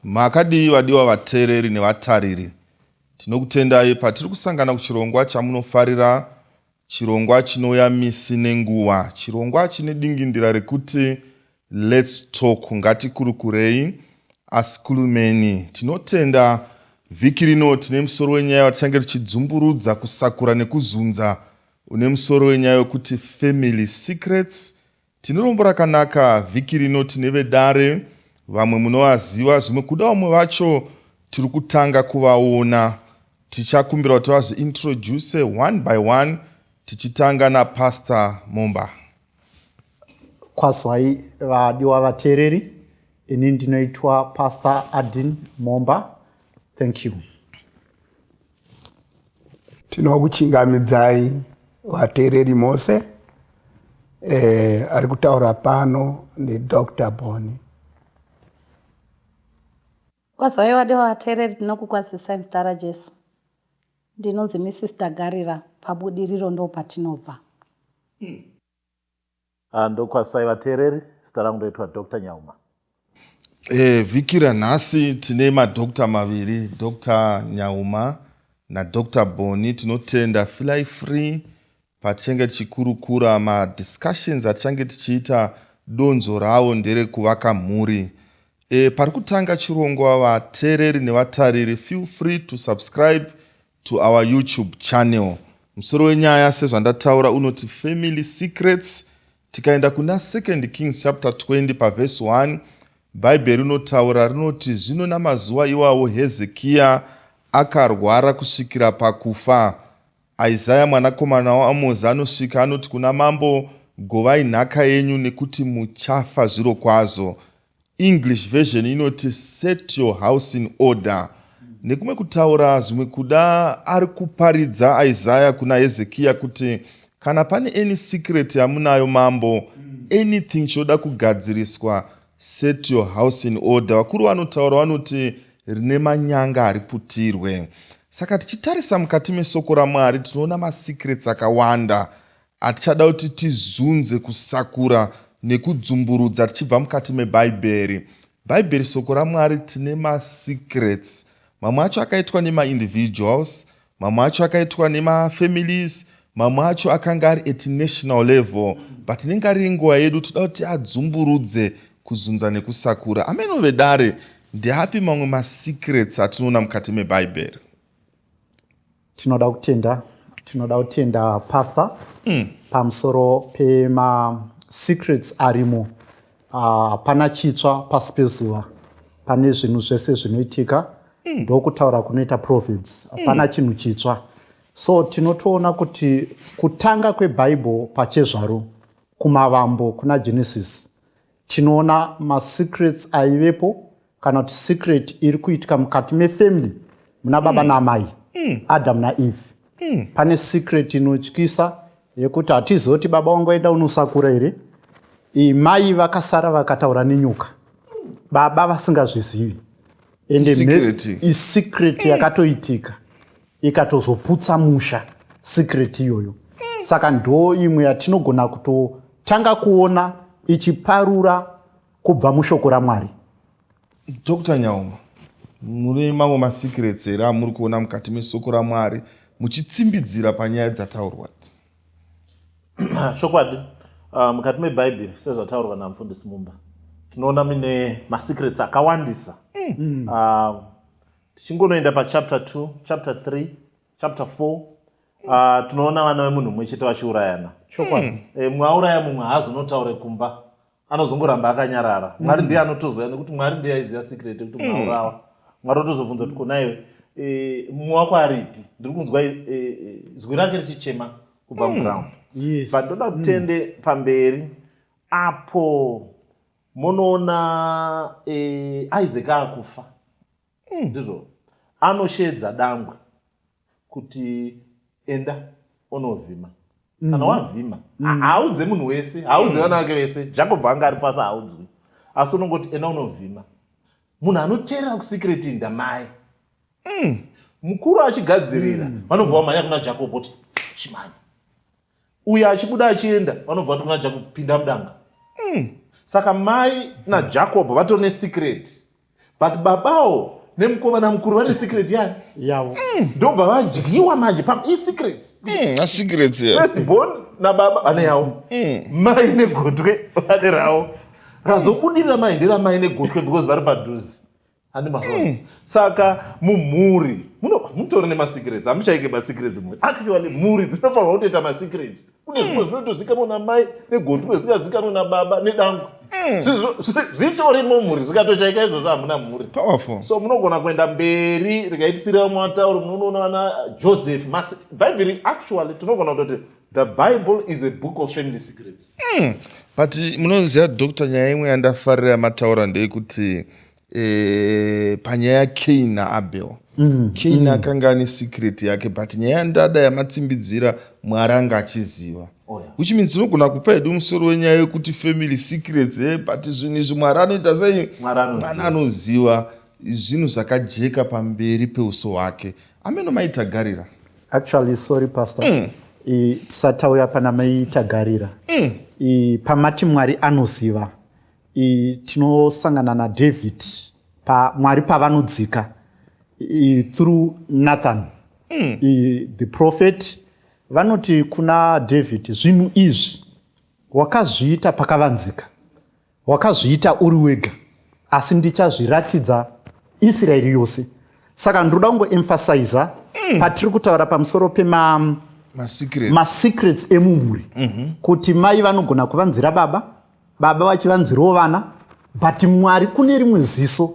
makadii vadiwa vateereri nevatariri tinokutendai patiri kusangana kuchirongwa chamunofarira Chirongwa chinouya misi nenguva. Chirongwa chine dingindira rekuti Let's Talk, Ngatikurukurei. Asi Kulumeni, tinotenda vhiki rino tine musoro wenyaya watichange tichidzumburudza, kusakura nekuzunza une musoro wenyaya wekuti Family Secrets Tine rombo rakanaka vhiki rino tine vedare vamwe munovaziva zvimwe kuda vamwe vacho tiri kutanga kuvaona tichakumbira kuti vazviintroduce one by one tichitanga napastor mumba kwazwai vadiwa vateereri ini ndinoitwa pastor adin momba thank you Tinokuchingamidzai vateereri mose. Eh, ari kutaura pano ndiDr Boni. Kwazvai vade vateereri tinokukwazisai muzita raJesu. Ndinonzi Mrs Tagarira pabudiriro ndopatinobva. Mm. Ah, ndokwasai vateereri zita rangu ndoitwa dr nyauma e, vhiki ranhasi tine madokta maviri dr nyauma nadr boni tinotenda filai free patichange tichikurukura madiscussions atichange tichiita donzo rawo nderekuvaka mhuri e, pari kutanga chirongwa vateereri nevatariri feel free to subscribe to our youtube channel musoro wenyaya sezvandataura unoti family secrets tikaenda kuna 2nd kings chapter 20 pavhesi 1 bhaibheri rinotaura rinoti zvino namazuva iwawo hezekiya akarwara kusvikira pakufa isaya mwanakomana waamozi anosvika anoti kuna mambo govai nhaka yenyu nekuti muchafa zviro kwazvo English version inoti set your house in order. Nekumwe kutaura zvimwe kuda ari kuparidza Isaiah kuna Hezekia kuti kana pane any secret yamunayo mambo anything choda kugadziriswa set your house in order. Vakuru vanotaura vanoti rine manyanga hariputirwe. Saka tichitarisa mukati mesoko raMwari tinoona masecrets akawanda. Hatichada kuti tizunze, kusakura nekudzumburudza tichibva mukati meBhaibheri. Bhaibheri soko raMwari tine masecrets. Mamwe acho akaitwa nemaindividuals, mamwe acho akaitwa nemafamilies, mamwe acho akanga ari at national level but inenge ari nguva yedu toda kuti adzumburudze kuzunza nekusakura ameno vedare ndeapi mamwe masecrets atinoona mukati mebhaibheri tinoda kutenda tinoda kutenda pastor mm. pamusoro pemasecrets arimo ah, hapana uh, chitsva pasi pezuva pane zvinhu zvese zvinoitika mm. ndokutaura kunoita proverbs hapana mm. chinhu chitsva so tinotoona kuti kutanga kwebhaibheri pachezvaro kumavambo kuna genesis tinoona masecrets aivepo kana kuti secret iri kuitika mukati mefamily muna baba mm. naamai mm. adam naeve mm. pane secret inotyisa yekuti hatizoti baba wangu aenda unosakura here mai vakasara vakataura nenyoka baba vasingazvizivi ende isecret yakatoitika ikatozoputsa musha secret iyoyo saka ndo imwe yatinogona kutotanga kuona ichiparura kubva mushoko ramwari dr nyauma mune mamwe masecrets here amuri kuona mukati mesoko ramwari muchitsimbidzira panyaya dzataurwa chokwadi ah, mukati mebhaibheri sezvataurwa namufundisi mumba tinoona mine masecrets akawandisa mm. uh, tichingonoenda pachapter 2 chapter 3 chapter 4 uh, ah, tinoona vana vemunhu mumwe chete vachiurayana chokwadi mm. e, eh, mumwe auraya mumwe haazonotaure kumba anozongoramba akanyarara mm. mwari ndiye anotozoya nekuti mwari ndiye aiziva sikireti kuti mumwe mm. aurawa mwari otozobvunza kuti konaiwe e, eh, mumwe wako aripi ndiri kunzwa e, e, zwi rake richichema kubva mm. muground yes. but ndoda kutende mm. pamberi apo munoona eh, isaac akufa hmm. ndizvo mm. anosheedza dangwe kuti enda unovhima mm. kana wavhima mm. haaudze munhu wese haaudze mm. vana vake vese jacob anga ari pasi haaudzwi asi unongoti enda unovhima munhu anoteerera kusikireti ndamai mm. mukuru achigadzirira mm. vanobva vamhanya kuna jacob kuti chimanya uyo achibuda achienda vanobva vato kuna jacob pinda mudanga mm. saka mai najacob mm. vato nesecret but babawo nemukomana mukuru vane secret yani yavo mm. ndobva vadyiwa manje pa isecrets mm, asecrets first born nababa vane yavo mm. mai negotwe vane ravo razobudirira mai nderamai negotwe because vari padhuze Handi mahoro. Mm. Saka mumhuri muno mutori ne secrets. Amuchaike ba secrets mwe. Actually mhuri dzinofanirwa kutoita ma secrets. Kune hmm. zvimwe zvinotozikanwa na mai negotwe zikazikanwa na baba nedangu. Hmm. Zvitori mumhuri zvikatochaika izvozvo hamuna mhuri. Powerful. So munogona kuenda mberi rikaitisira matauro munoona vana Joseph Masi. Bible actually tinogona kutoti The Bible is a book of family secrets. Mm. But munoziva doctor nyaya imwe yandafarira mataura ndeyekuti eh, panyaya yaCain naAbel. Mm. Cain mm. akanga ane secret yake but nyaya yandada yamatsimbidzira Mwari anga achiziva. Oh, yeah. Which means tinogona kupa hedu musoro wenyaya yekuti family secrets eh, but zvinhu izvi Mwari anoita sei? Mwari anoziva zvinhu zvakajeka pamberi peuso hwake. Ameno maitagarira. actually sorry pastor mm. satauya pana mai tagarira mm. I, pamati mwari anoziva tinosangana nadavid pa, mwari pavanodzika through nathan mm. I, the prophet vanoti kuna david zvinhu izvi wakazviita pakavanzika Wakazviita uri wega, asi ndichazviratidza Israeri yose. Saka ndinoda kungoemphasiza mm. patiri kutaura pamusoro pema masecrets ma emumhuri mm -hmm. kuti mai vanogona kuvanzira baba, baba vachivanzirawo vana, but Mwari kune rimwe ziso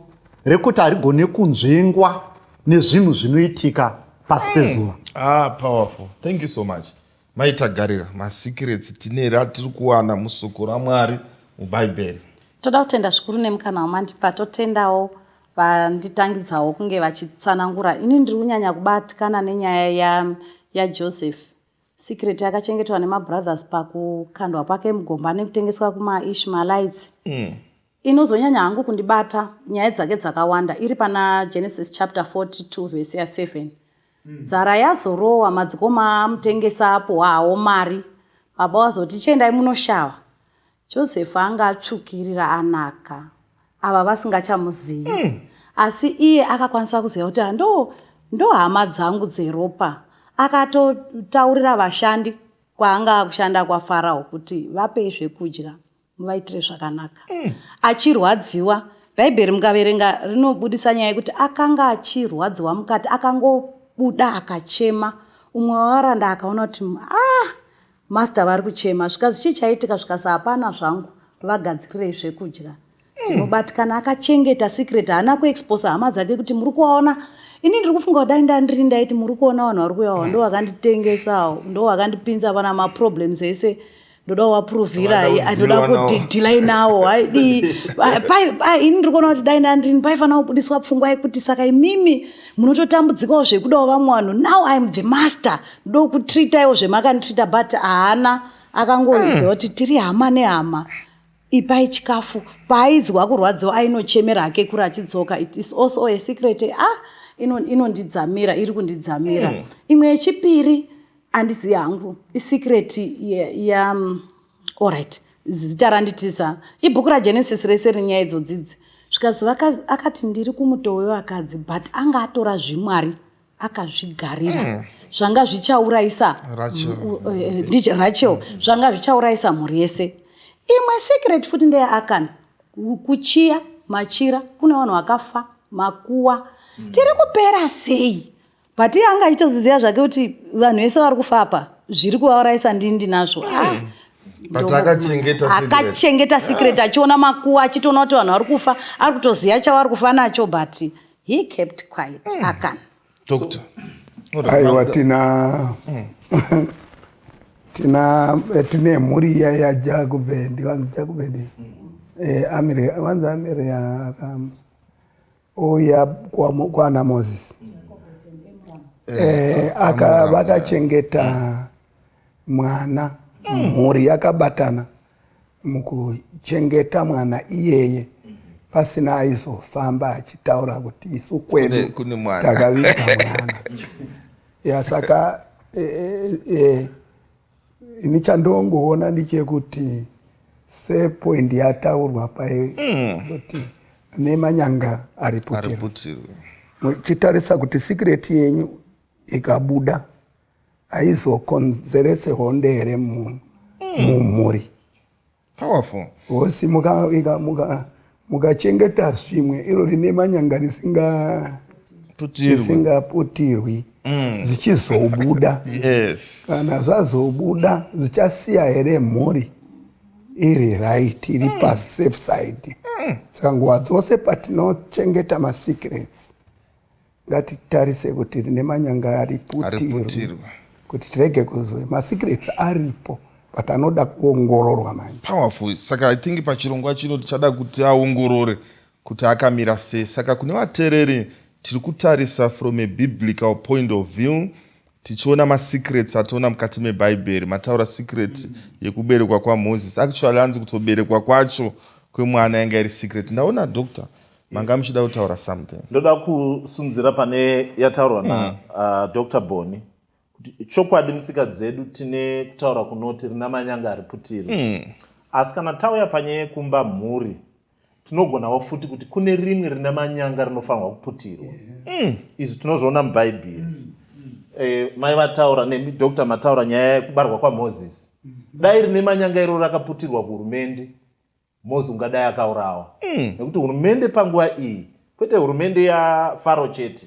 rekuti harigone kunzvengwa nezvinhu zvinoitika pasi mm. pezuva. Mm. Ah, powerful. Thank you so much. Mai Tagarira, masikirets tine here atiri kuwana musoko raMwari muBhaibheri? Toda kutenda zvikuru nemukana wamandipa, totendawo vanditangidzawo kunge vachitsanangura. Ini ndiri kunyanya kubatikana nenyaya ya, yaJoseph. Secret yakachengetwa nemabrothers pakukandwa kwake mugomba nekutengeswa kumaIshmaelites. Mm. Inozonyanya hangu kundibata nyaya dzake dzakawanda iri pana Genesis chapter 42 verse ya 7. Hmm. Dzara yazorowa madzikoma amutengesa apo hawo mari. Baba wazoti chiendai munoshava. Joseph anga atsvukirira anaka. Ava vasingachamuzivi. Hmm. Asi iye akakwanisa kuziva kuti ndo ndo hama dzangu dzeropa. Akatotaurira vashandi kwaanga akushanda kwaFarao kuti vape zvekudya. muvaitire zvakanaka mm. achirwadziwa bhaibheri mukaverenga rinobudisa nyaya yekuti akanga achirwadziwa mukati akangobuda akachema umwe wavaranda akaona kuti ah master vari kuchema zvikazi chii chaitika zvikasa hapana zvangu vagadzirirei zvekudya tinobatikana mm. akachengeta secret haana kuexposa hama dzake kuti muri kuona ini ndiri kufunga kudai ndandiri ndaiti muri kuona vanhu vari kuyawa ndo vakanditengesawo ndo vakandipinza pana maproblems ese ndoda kuvaprovira anoda kudhilai nawo haidii ini ndiri kuona kuti dai ndandini paifanira kubudiswa pfungwa yekuti saka imimi munototambudzikawo zvekudawo vamwe vanhu now iam the master ndoda kutreataiwo zvemakanditreata but haana akangoziva hmm. kuti tiri hama nehama ipai chikafu paainzwa kurwadziwa ainochemera hake kuri achidzoka it is also a secret ah inondidzamira iri kundidzamira hmm. imwe yechipiri andizi yangu isecret ya, ya um, alright zita randitisa ibhuku ragenesis rese rinyaya idzo dzidzi zvikazi akati ndiri kumuto wevakadzi but anga atora zvimwari akazvigarira mm. zvanga zvichaurayisa eh, rachel zvanga zvichaurayisa mhuri yese imwe secret futi ndeyaakana kuchiya machira kune vanhu vakafa makuwa mm. tiri kupera sei but iye anga achitoziziva zvake kuti vanhu vese vari kufa apa zviri kuvaurayisa ndini ndinazvo hmm. ah. akachengeta secret achiona makuwa achitoona kuti vanhu vari kufa ari kutoziva chavari kufa nacho but he kept quiet hmm. akan doctor aiwa tina hmm. tina eh, tine mhuri iya yajakubendi vanzi jakubendi eh, amire vanzi amire aka Ouya kwana Moses eh, eh, aka vakachengeta mwana hmm. mhuri yakabatana mukuchengeta mwana iyeye pasina aizofamba achitaura kuti isu kwedu takaviga mwana yasaka e, e, e, ini chandongoona ndichekuti sepoindi yataurwa paye mm. kuti mm. nemanyanga ariputirwe muchitarisa kuti sikireti yenyu ikabuda aizokonzerese honde here mumhuri mm. powerful hosi mukachengeta muka, muka svimwe iro rine manyanga risingaputirwi mm. zvichizobuda yes. kana zvazobuda zvichasiya here mhuri iri right iri mm. pasafe side mm. saka nguva dzose patinochengeta masecrets ngatitarise kuti rine manyanga ariputirwe kuti tirege kuzoe masecrets aripo but anoda kuongororwa manje powerful saka i think pachirongwa chino tichada kuti aongorore kuti akamira sei saka kune vatereri tiri kutarisa from a biblical point of view tichiona masecrets atoona mukati mebhaibheri mataura secret mm. yekuberekwa kwamoses actually anzi kutoberekwa kwacho kwemwana yanga iri secret ndaona doctor manga muchida kutaura something ndoda kusunzira pane yataurwa na mm. uh, dr boni kuti chokwadi mutsika dzedu tine kutaura kunoti rina manyanga ari putiri mm. asi kana tauya panyaya yekumba mhuri tinogonawo futi kuti kune rimwe rina manyanga rinofanirwa kuputirwa mm. izvi tinozviona mubhaibheri mm. eh, mai vataura nemi dr mataura nyaya yekubarwa kwamoses mm. dai rine manyanga iro rakaputirwa kuhurumende Mozi ungadai akaurawa mm. nekuti hurumende panguva iyi kwete hurumende yafaro chete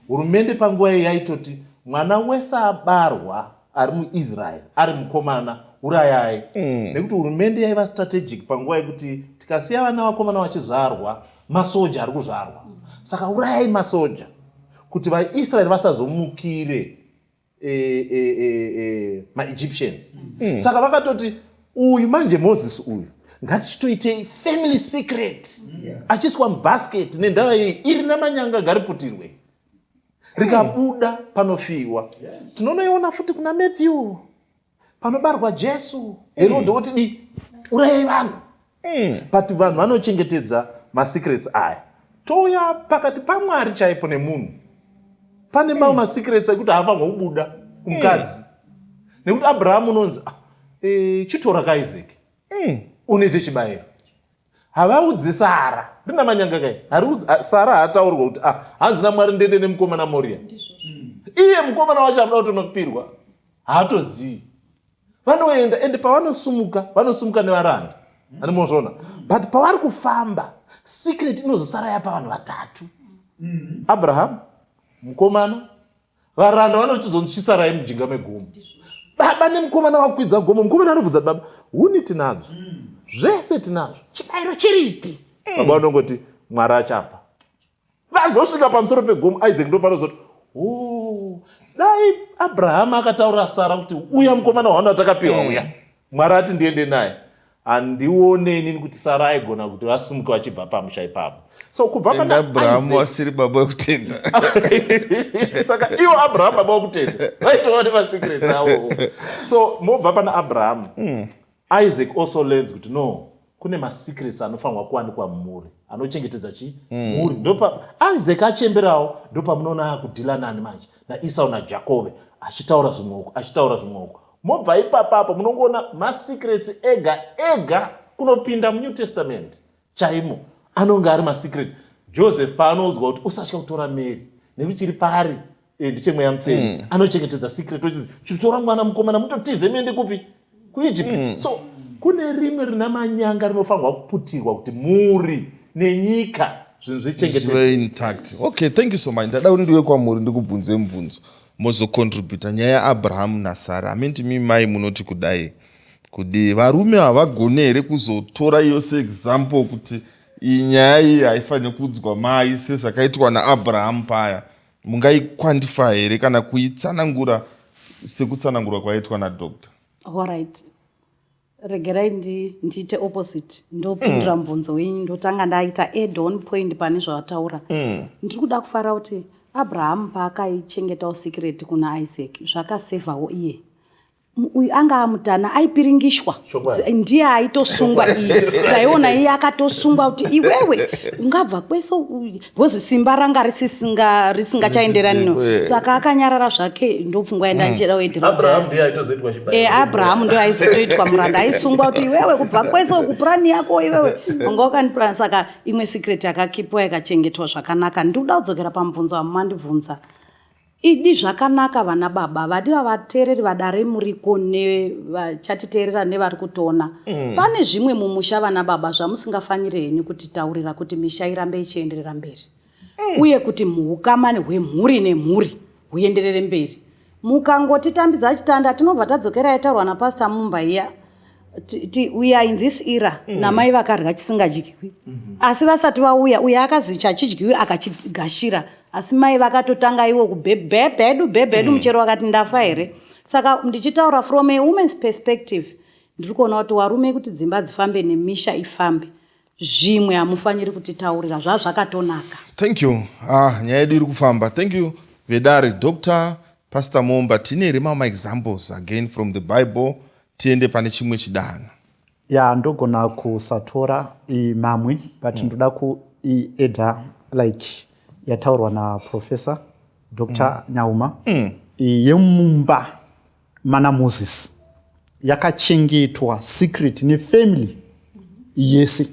hurumende panguva iyi yaitoti mwana wese abarwa ari muisraeri ari mukomana urayai mm. nekuti hurumende yaiva strategic panguva yekuti tikasiya vana vakomana vachizvarwa masoja ari kuzvarwa saka urayai masoja kuti vaisraeri vasazomukire eh, eh, eh, maegyptians mm. saka vakatoti uyu manje moses uyu ngatichitoitei family secret yeah. achiiswa mubasket nendava iyi iri namanyanga gariputirwe rikabuda panofiwa tinonoiona futi kuna matthew panobarwa jesu herodhi woti di urayai vanhu hmm. but vanhu vanochengetedza masecrets aya touya pakati pamwari chaipo nemunhu pane mamwe hmm. masecrets ekuti haafanirwa kubuda kumukadzi hmm. nekuti abrahamu unonzi ah, eh, chitora kaizeki unoite chibayiro havaudze sara rina manyanga kai sara haataurirwa kuti ah, hanzi namwari ndende nemukomana moria iye mukomana wacho anoda kutona kupirwa haatozivi vanoenda ende pavanosumuka vanosumuka nevaranda ani mozvona but pavari kufamba secret inozosara yapa vanhu vatatu abraham mukomana varanda vanochizonzi chisarai mujinga megomo baba nemukomana wakwidza gomo mukomana anobvudza baba huni tinadzo mm. zvese tinazvo chibayiro chiripi mm. baba vanongoti mwari achapa vazosvika pamusoro pegomo isaac ndopanozoti o oh, dai abrahama akataura sara kuti uya mukomana waano atakapiwa mm. uya mwari ati ndiende naye handione inini kuti sara aigona kuti vasimuke vachibva pamusha ipapo so kubva paabrahamu asiri baba wekutenda saka ivo abrahamu baba wekutenda vaitova nemasecret avo so mobva pana abrahamu hmm. isaac also learns kuti no kune masecrets anofanirwa kuwanikwa mumhuri anochengetedza chi hmm. mhuri mm. ndopa isaac achemberawo ndopamunoona akudhila nani manje naisau najakobe achitaura zvimwoko achitaura zvimwoko mobva ipapa apo munongoona masecrets ega ega kunopinda munew testament chaimo anonge ari masecret joseph paanoudzwa kuti usatya kutora mary nekuti chiri paari eh, ndichemweya mutei mm. anochengetedza secret ochizi chitora mwana mukomana mutotize mende kupi kuegypt mm. so kune rimwe rina manyanga rinofanirwa kuputirwa kuti muri nenyika zvinhu zvichengetedza okay thank you so much ndada kuti ndiwe kwamuri ndikubvunze mubvunzo mozocontributa nyaya yaabrahamu nasara hamenti mi mai munoti kudai kudii varume havagone here kuzotora iyo seexample kuti iyi nyaya iyi haifanire kuudzwa mai sezvakaitwa naabrahamu paya mungaiquantifa here kana kuitsanangura sekutsanangurwa kwaitwa nadoctor allright regerai ndiite ndi opposite ndopindura mm. mubvunzo wenyu ndotanga ndaita add on point pane zvavataura mm. ndiri kuda kufara kuti abrahamu paakaichengetawo sikireti kuna isaac zvakasevhawo iye uyu anga amutana aipiringishwa ndiye aitosungwa iyi taiona iye akatosungwa kuti iwewe ungabva kwese because simba ranga risingachaenderani no saka akanyarara zvake ndopfungwa yenda ndichida kuendeaabrahamu ndo aizotoitwa muranda aisungwa kuti iwewe kubva kwese kupurani yako iwewe anga wakanipurani saka imwe secret yakakipwa yakachengetwa zvakanaka ndikuda kudzokera pamubvunzo wamumandibvunza Idi zvakanaka vana baba vadi vavateereri vadare muriko nevachatiteerera nevari kutona mm. pane zvimwe mumusha vana baba zvamusingafanire henyu kutitaurira kuti misha irambe ichienderera mberi mm. uye kuti muhukamani hwemhuri nemhuri huenderere mberi mukangotitambidza chitanda tinobva tadzokera yataurwa napasita mumba iya we are in this era mm. namai vakarya chisingadyiwi mm -hmm. asi vasati vauya uye akazi chachidyiwi akachigashira asi mai vakatotanga iwo kubhebhebhe hedu bhebhe hedu mm. muchero wakati ndafa here saka ndichitaura from a woman's perspective ndiri kuona kuti warume kuti dzimba dzifambe nemisha ifambe zvimwe hamufaniri kutitaurira zvazvakatonaka thank you ah, nyaya yedu iri kufamba thank you vedare dr pastor momba tine here mama examples again from the bible tiende pane chimwe chidanho ya ndogona kusatora mamwe but mm. ndoda kuieda like yataurwa naprofessor dr mm. nyauma mm. yemumba Mana Moses yakachengetwa secret nefamily yese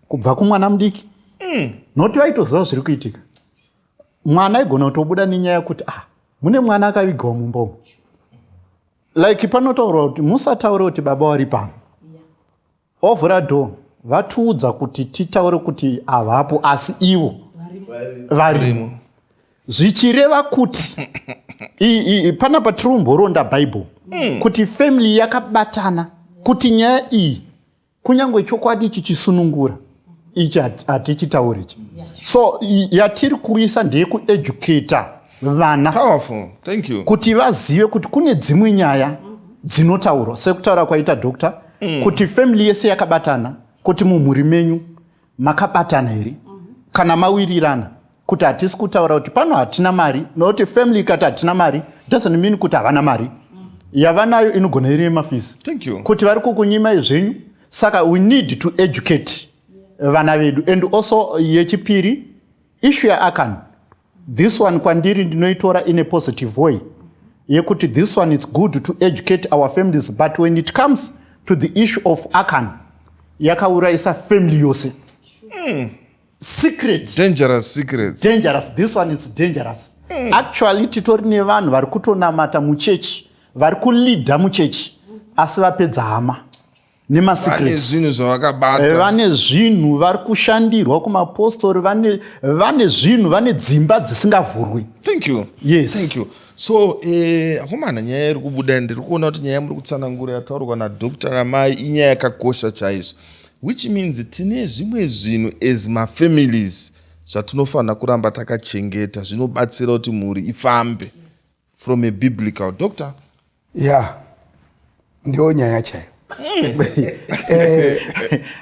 kubva kumwana mudiki mm. noti vaitoziva zviri kuitika mwana aigona kutobuda nenyaya yekuti ah mune mwana akavigwa mumbomo like panotaurwa kuti musataure kuti baba wari pano Ovhura door vatiudza kuti titaure kuti havapo asi ivo varimo zvichireva kuti pana patiri kumboronda bible hmm. kuti family yakabatana kuti nyaya iyi kunyange chokwadi ichi chisunungura ichi hatichitauri ichi so yatiri kuisa ndeyekueducata vana kuti vazive kuti kune dzimwe nyaya dzinotaurwa sekutaura kwaita doctor mm. kuti family yese yakabatana kuti mumhuri menyu makabatana here mm -hmm. kana mawirirana kuti hatisi kutaura kuti pano hatina mari nokuti family ikati hatina mari doesn't mean kuti havana mari yavanayo inogona iri yemafisi kuti vari kukunyimai zvenyu saka we need to educate vana vedu and also yechipiri ishu yaakan this one kwandiri ndinoitora in a positive way yekuti this one it's good to educate our families but when it comes to the issue of akan yakaurayisa family yose mm. secret dangerous secrets dangerous this one it's dangerous mm. actually titori nevanhu vari kutonamata muchechi vari kuleader muchechi asi vapedza hama nemasecretsvane zvinhu zvavakabata eh, vane zvinhu vari kushandirwa kumapostori vane zvinhu vane dzimba dzisingavhurwi thank you yes thank you so eh, akomana nyaya iri kubuda ndiri kuona kuti nyaya muri kutsanangura yataurwa nadokta namai inyaya yakakosha chaizvo Which means tine zvimwe zvinhu as mafamilies zvatinofanira kuramba takachengeta zvinobatsira kuti mhuri ifambe from a biblical doctor ya yeah. ndiyo nyaya chaiyo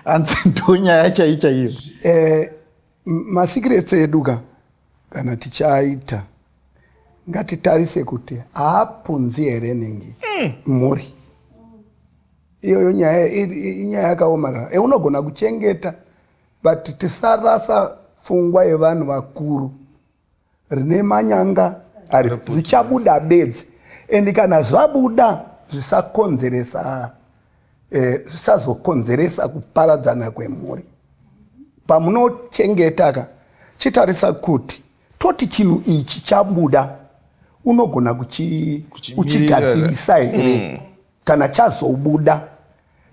hanzi eh, ndiyo nyaya chaiyo chaiyo eh, Masikiretse edu ka kana tichaita ngatitarise kuti haapunzi here ningi mm. mhuri iyoyo nyaya inyaya yakaomarara e unogona kuchengeta but tisarasa pfungwa yevanhu vakuru rine manyanga ari zvichabuda bedzi and kana zvabuda zvisakonzeresa eh, zvisazokonzeresa eh, kuparadzana kwemhuri pamunochengeta ka chitarisa kuti toti chinhu ichi chabuda unogona uchigadzirisa here mm. kana chazobuda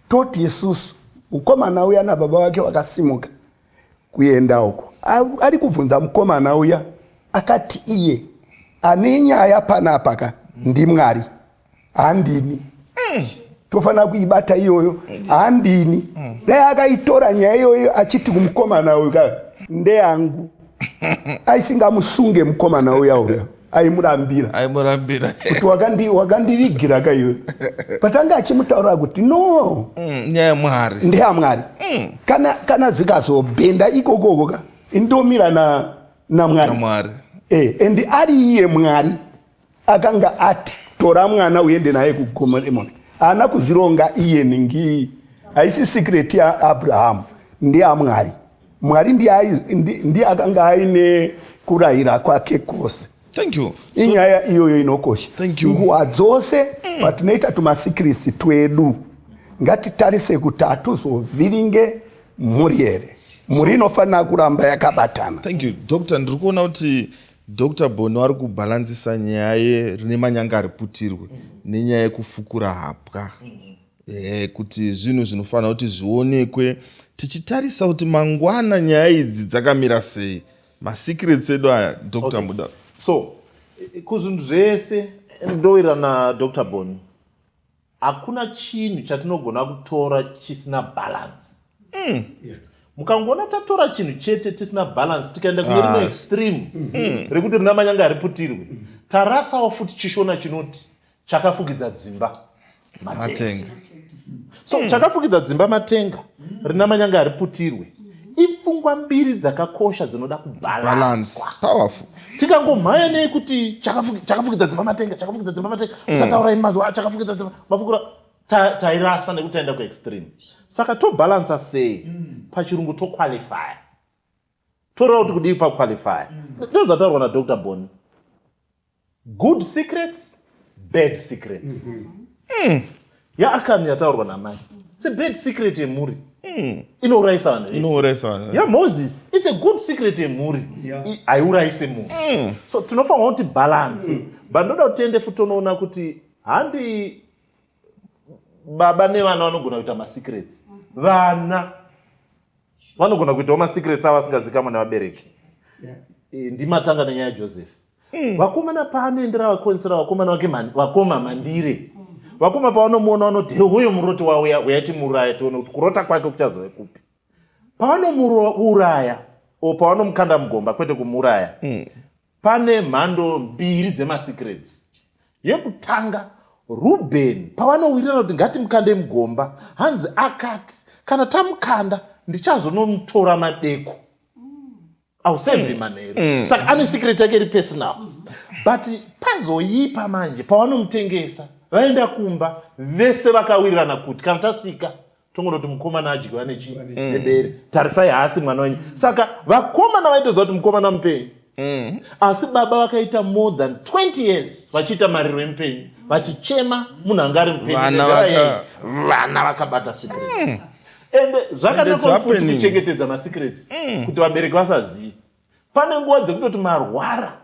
toti isusu ukomana uya nababa vake vakasimuka kuenda uko ari kubvunza mukomana uya akati iye ane nyaya panapa ka ndimwari handini mm. tofanira kuibata iyoyo handini mm. dai akaitora nyaya iyoyo achiti kumukomana uyu ka ndeyangu aisingamusunge mukomana uya uya aimurambira aimurambira kuti wakandi wakandivigira ka iwe but anga achimutaurira kuti no mm, nyaya yamwari ndeyamwari mm. kana kana zvikazobhenda ikokoko ka indomira na namwari namwari eh and ari iye mwari akanga ati tora mwana uende naye kugomo remoni haana kuzvironga iye ningi haisi secret yaabrahamu ndeyamwari Mwari ndiye akanga aine kurayira kwake kwose. Thank you. So, inyaya iyoyo inokosha. Thank you. Nguva dzose mm. patinoita tumasikirisi twedu ngatitarise kuti hatuzovhiringe mhuri here. Mhuri inofanira so, kuramba yakabatana. Thank you. Doctor, ndiri kuona kuti Dr. Bono ari kubhalansisa nyaya rine manyanga ari putirwe mm. nenyaya yekufukura hapwa. Mm. e, kuti zvinhu zvinofanira kuti zvionekwe tichitarisa kuti mangwana nyaya idzi dzakamira sei masecrets edu aya dr okay. muda so kuzvinhu zvese ndowira nadr boni hakuna chinhu chatinogona kutora chisina balance mm. yeah mukangoona tatora chinhu chete tisina balance tikaenda kune rimwe ah. extreme mm. rekuti rina manyanga hariputirwe tarasawo futi chishona chinoti chakafukidza dzimba matenga so mm. chakafukidza dzimba matenga rina manyanga hariputirwe ipfungwa mbiri dzakakosha dzinoda kubalanswa powerful tikangomhaya nei kuti chakafukidza dzimba matenga chakafukidza dzimba matenga mm. usataura ini mazuva chakafukidza dzimba mafukura tairasa nekuti taenda kuextreme saka tobalansa sei mm. pachirungu toqualifya toreva kuti kudii paqualifya mm. ndozvataurwa nadr boni Good secrets, bad secrets. Mm -hmm. mm. Yaakani yataurwa namai. It's a bad secret yemhuri. Mm. Inourayisa vanhu vese. Inourayisa vanhu. Yeah, Moses, it's a good secret yemhuri. Yeah. Haiurayise munhu. Mm. So tinofanirwa kuti balance. Mm. But ndoda kuti tiende futi tonoona kuti handi baba nevana vanogona kuita masecrets. Mm -hmm. Vana vanogona kuitawo masecrets avo asingazikamwe nevabereki. Yeah. E, ndimatanga nenyaya yaJoseph. mm. vakomana paanoendera vakonisira vakomana vake man, vakoma mandire mm. vakoma pavanomuona vanoti hehoyo muroti wauya uyati muraya tione kuti kurota kwake kuchazove kupi pavanomuuraya o pavanomukanda mugomba kwete kumuuraya mm. pane mhando mbiri dzemasecrets yekutanga rubeni pavanowirirana kuti ngatimukande mugomba hanzi akati kana tamukanda ndichazonomutora madeko ausevhi manheru mm. saka ane secret yake iri personal but pazoipa manje pavanomutengesa vaenda kumba vese vakawirirana kuti kana tasvika tongonoti mukomana adyiwa nechii mm. nebere tarisai haasi mwana wenyu saka vakomana vaitoziva kuti mukomana mupenyu Mm. asi baba vakaita more than 20 years vachiita mariro emupenyu vachichema munhu anga ari mupenyuvana vakabata secret mm. ende zvakanaka futi kuchengetedza masecrets mm. kuti vabereki vasazive pane nguva dzekutoti marwara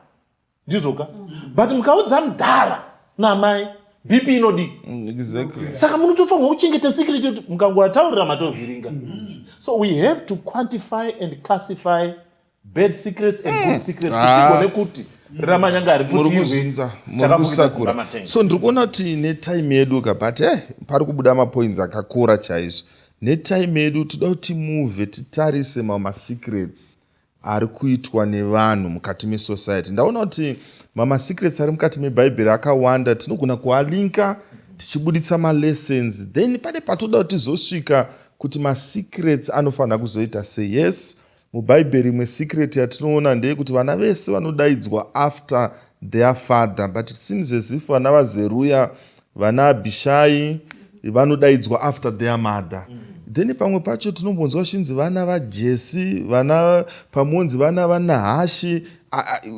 ndizvoka mm. but mukaudza mdhara namai bp inodii mm, exactly. saka munotofanirwa kuchengeta secret kuti mukangowataurira matovhiringa mm. so we have to quantify and classify bad secrets and good secrets kuti Ah. tigone kuti ramanyanga ari muri kuti kuzunza muri kusakura so ndiri kuona kuti netime yedu ka but eh, pari kubuda mapoints akakura chaizvo netime yedu toda kuti move titarise mamwe masecrets ari kuitwa nevanhu mukati mesociety ndaona kuti mamwe masecrets ari mukati mebhaibheri akawanda tinogona kualinka tichibuditsa malessons then pane patoda kuti tizosvika kuti masecrets anofanira kuzoita seyes Mubhaibheri imwe secret yatinoona ndeyekuti vana vese vanodaidzwa after their father but it seems as if vana vaZeruya, vana Abhishai vanodaidzwa after their mother. Mm then pamwe pacho tinombonzwa vachinzi vana vajesi vana pamonzi vana vanahashi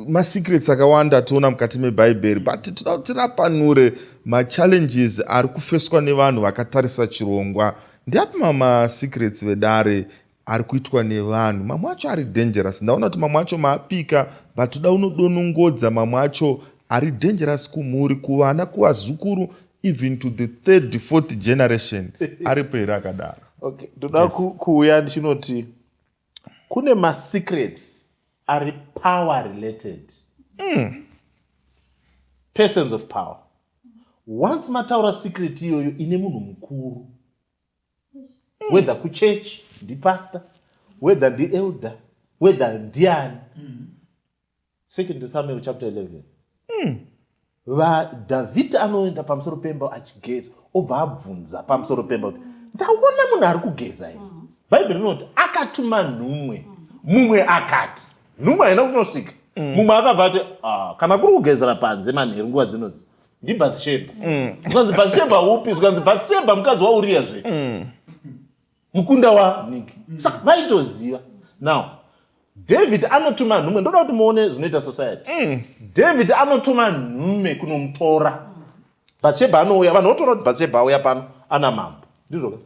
masecrets akawanda ationa mukati mebhaibheri but tinoda kuti rapanure machallenges ari kufeswa nevanhu vakatarisa chirongwa ndiapi mamasecrets vedare ari kuitwa nevanhu mamwe acho ari dangerous ndaona kuti mamwe acho maapika but toda unodonongodza mamwe acho ari dangerous kumhuri kuvana kuvazukuru even to the third fourth generation aripo here akadaro okay ndoda yes. kuuya ndichinoti kune masecrets ari power related mm. persons of power once mataura secret iyoyo ine munhu mukuru whether kuchurch ndipastor whether ndielder whether ndiani mm. second samuel chapter 11 mm. vadhavhidhi anoenda pamusoro pemba achigeza obva abvunza pamusoro pemba kuti ndaona munhu ari kugeza here mm. bhaibheri rinoti akatuma nhumwe mm. mumwe akati nhumwe haina kunosvika mm. mumwe akabva ati ah, kana kuri kugezera panze manheru nguva dzinodzi ndibathsheba mm. zvikanzi bathsheba upi zvikanzi bathsheba mukadzi wauriya zve mm. mukunda waniki mm. saka vaitoziva now david anotuma nhume ndoda kuti muone zvinoita society david anotuma nhume kunomutora bathsheba anouya vanhu votora kuti bathsheba auya pano ana mambo ndizvo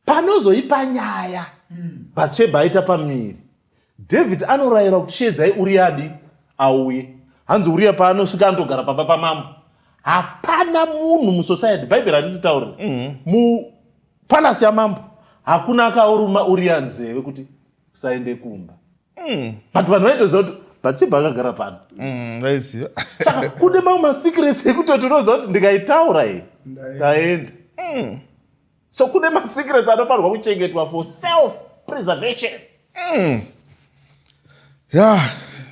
panozoipa nyaya hmm. bhatshebha aita pamiri david anorayira kuti sheedzai uriyadi auye hanzi uriya paanosvika anotogara pamba pamambo hapana munhu musociety bhaibheri handititaure mhm. mupalasi yamambo hakuna akauruma uriya nzeve kuti usaende kumba mhm. but vanhu vaitoziva kuti bhatshebha akagara pano mhm, saka kune mamwe masecrets ekutoti unoziva kuti ndikaitaura iyi ndaenda so kune masecrets anofanirwa kuchengetwa for self preservation mm. ya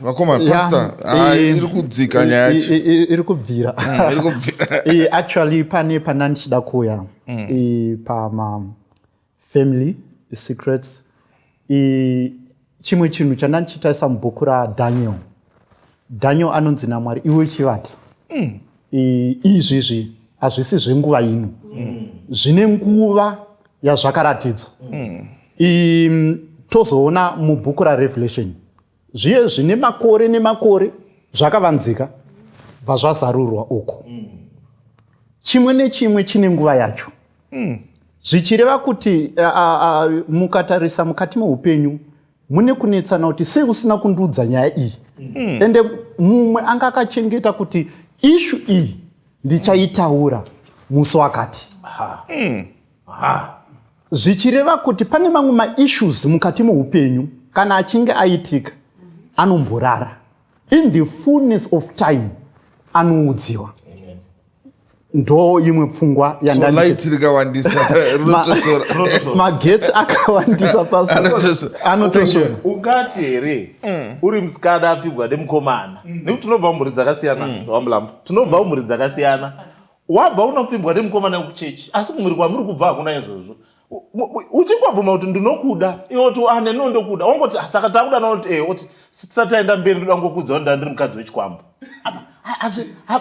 vakoma pasta ah, iri kudzika nyaya yacho iri kubvira mm, actually pane pana ndichida kuuya mm. pama family secrets chimwe chinhu chandandichitaisa mubhuku radaniel daniel anonzi namwari iwe uchivata mm. izvizvi hazvisi zvenguva ino mm. zvine nguva yazvakaratidzwa mm. tozoona mubhuku rarevelation zviye zvine makore nemakore zvakavanzika bva zvazarurwa uku chimwe nechimwe chine nguva yacho mm. zvichireva kuti uh, uh, mukatarisa mukati meupenyu mune kunetsana kuti sei usina kundiudza nyaya iyi mm. ende mumwe anga akachengeta kuti ishu iyi ndichaitaura musi wakati mm. Aha. Zvichireva kuti pane mamwe maissues mukati moupenyu kana achinge aitika anomborara in the fullness of time anoudziwa ndo imwe pfungwa yandamagetsi akawandisa pasanotosora ungati here mm. uri musikana apfigwa nemukomana mm. nekuti tinobva mumhuri dzakasiyana mm. wamlambo tinobva mumhuri dzakasiyana wabva unopfimbwa nemukomana wekuchechi asi kumhuri kwamuri kubva hakuna izvozvo uchingobvuma kuti ndinokuda iwe kuti ane ah, no ndokuda wangoti ah, saka takuda naoti e oti tisati aenda mberi ndoda ngokuudza kuti ndandiri mukadzi wechikwambo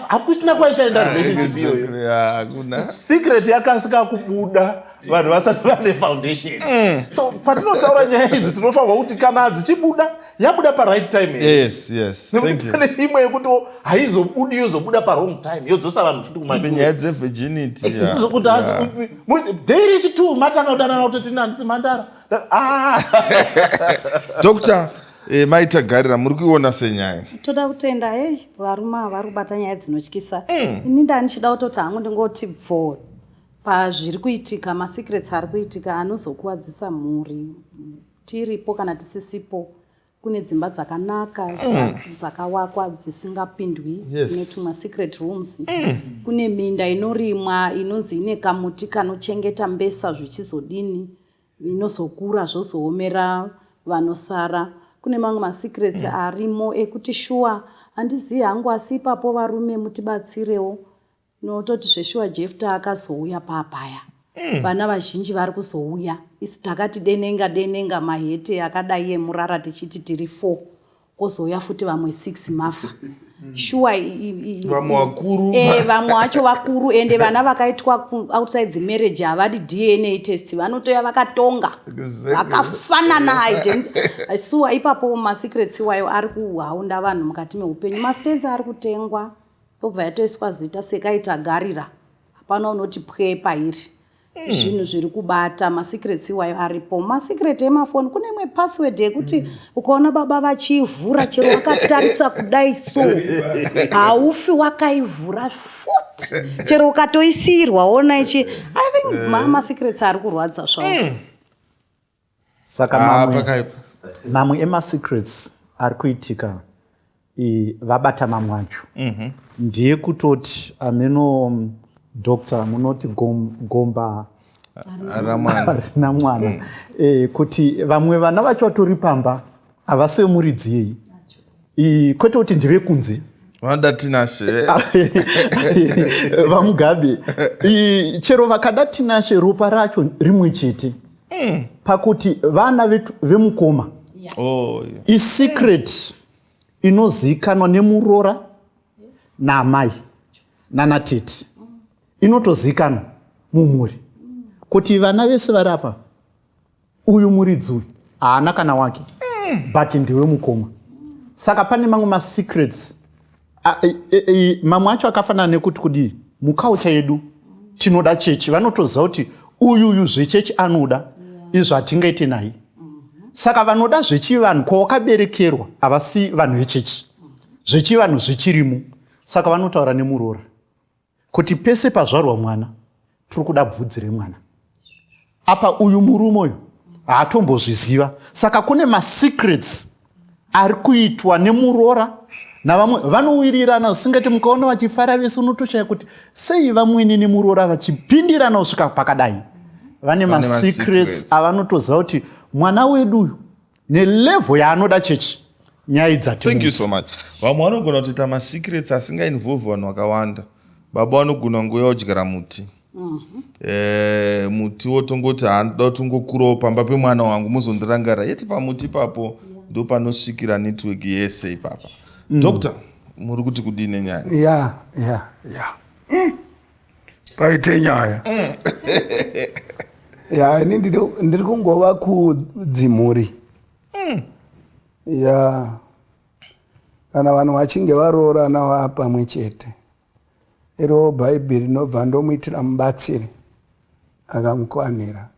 hakuchina kwaichaenda ah, relationship iyoyo secret yakasika kubuda vanhu vasati vane foundation mm. so patinotaura nyaya idzi tinofanirwa kuti kana dzichibuda yabuda paright time yes yes thank you pane imwe yekuti haizobudi yozobuda parong time yodzosa vanhu futi kumapinyaya dzevirginity eh, zvokuti daily chitu matanga kudanana kuti tini handisi mhandara ah. doctor eh, maitagarira muri kuiona senyaya toda kutenda hei eh, varume vari kubata nyaya dzinotyisa mm. ini ndanichida kutoti hangu ndingoti bvoo pazviri kuitika masecrets ari kuitika anozokuvadzisa mhuri tiripo kana tisisipo kune dzimba dzakanaka mm. dzakawakwa dzisingapindwi netuma secret rooms mm. kune minda inorimwa inonzi ine kamuti kanochengeta mbesa zvichizodini inozokura zvozoomera vanosara kune mamwe masecrets mm. arimo ekuti shuwa handizivi hangu asi ipapo varume mutibatsirewo Nototi zveshuwa Jefta akazouya papaya. Mm. Vana vazhinji vari kuzouya. Isi takati denenga denenga mahete akadai emurara tichiti tiri 4. Kozouya futi vamwe 6 mafa. Mm. Shuwa vamwe vakuru. Eh vamwe wacho vakuru ende vana vakaitwa outside the marriage havadi DNA test vanotoya vakatonga. Vakafanana hidden. Isuwa ipapo ma secrets iwayo ari kuhaunda vanhu mukati meupenyu. Mastenza ari kutengwa. Yobva yatoiswa zita Sekai Tagarira. Hapana unoti pwe pairi. Hmm. Zvinhu zviri kubata masecrets iwayo aripo. Masecret emafoni kune imwe password yekuti hmm. ukaona baba vachiivhura chero wakatarisa kudai so haufi wakaivhura futi chero ukatoisiyirwa ona ichi I think hmm. masecrets ari kurwadza zvawo. saka ah, mamwe, mamwe emasecrets ari kuitika e, vabata mamwe acho mm -hmm. ndiye kutoti ameno um, doctor munoti gom, gomba ramwana mm. e, kuti vamwe vana vacho vatori pamba havasi vemuridzi yeyi iyi kwete kuti ndevekunze vanoda tinashe vamugabe chero vakada tinashe ropa racho rimwe chete hmm. pakuti vana vemukoma oh, isecret inozivikanwa nemuroora naamai nanatete inotozivikanwa mumhuri kuti vana vese vari apa uyu muridzi uyu haana kana wake mm. but ndiwe mukoma saka pane mamwe masecrets e, e, e, mamwe acho akafanana nekuti kudii muculture yedu tinoda chechi vanotoziva kuti uyu uyu zvechechi anoda izvo hatingaite naye saka vanoda zvechivanhu kwawakaberekerwa havasi vanhu vechechi zvechivanhu zvichirimo saka vanotaura nemuroora kuti pese pazvarwa mwana tiri kuda bvudzi remwana apa uyu murume uyu haatombozviziva saka kune masecrets ari kuitwa nemuroora navamwe vanowirirana usingati mukaona vachifara vese unotoshaya kuti sei vamwene nemuroora vachipindirana kusvika pakadai vane masecrets avanotoziva kuti mwana wedu uyu nelevo yaanoda chechi nyaya idzathank you so much vamwe vanogona kutoita masecrets asingainvolve vanhu vakawanda baba vanogona nguva yodyara muti mhm. eh, muti wotongoti handoda kuti ungokurawo pamba pemwana wangu muzondirangara yeti pamuti ipapo ndo panosvikira network yese ipapa mm. doctor muri kuti kudii nenyaya ya ya ya paite nyaya mm. ya ini ndiri kungova kudzimhuri mm. ya kana vanhu vachinge varoorana va pamwe chete iro bhaibheri rinobva ndomuitira mubatsiri akamukwanira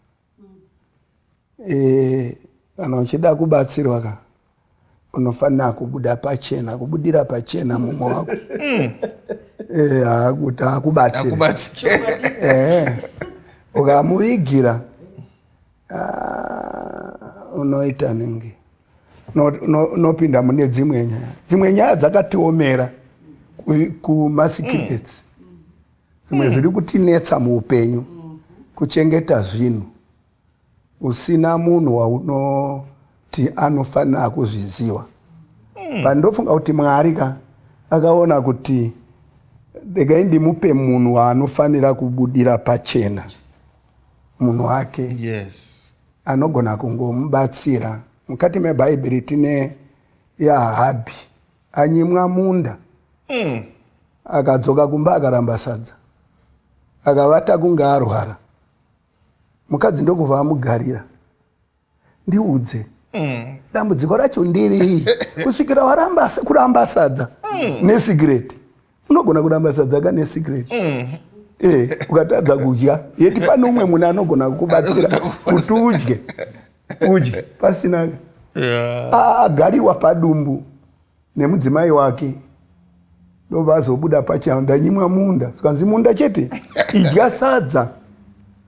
Eh, kana uchida kubatsirwa ka unofanira kubuda pachena kubudira pachena mumwe wako mm. eh, hakuti akubatsira eh, ukamuvigira ah, unoita ningi unopinda mune dzimwe nyaya dzimwe nyaya dzakatiomera kumasikirets mm. zvimwe zviri kutinetsa muupenyu kuchengeta zvinhu usina munhu waunoti anofanira kuzviziva hmm. pandofunga kuti mwari ka akaona kuti regai ndimupe munhu waanofanira kubudira pachena munhu wake yes. anogona kungomubatsira mukati mebhaibheri tine yahabhi Anyimwa munda. Mm. Akadzoka kumba akaramba sadza. Akavata kunge arwara. Mukadzi ndokubva amugarira. Ndiudze. Mm. Dambudziko racho ndirei kusvikira waramba kuramba sadza mm. nesigireti. unogona kuramba sadza kane secret mm. eh, ukatadza kudya yeti pane umwe munhu anogona kukubatsira kuti udye udye pasinaka yeah. agariwa padumbu nemudzimai wake ndovazobuda pachao ndanyimwa munda sikanzi munda chete idya sadza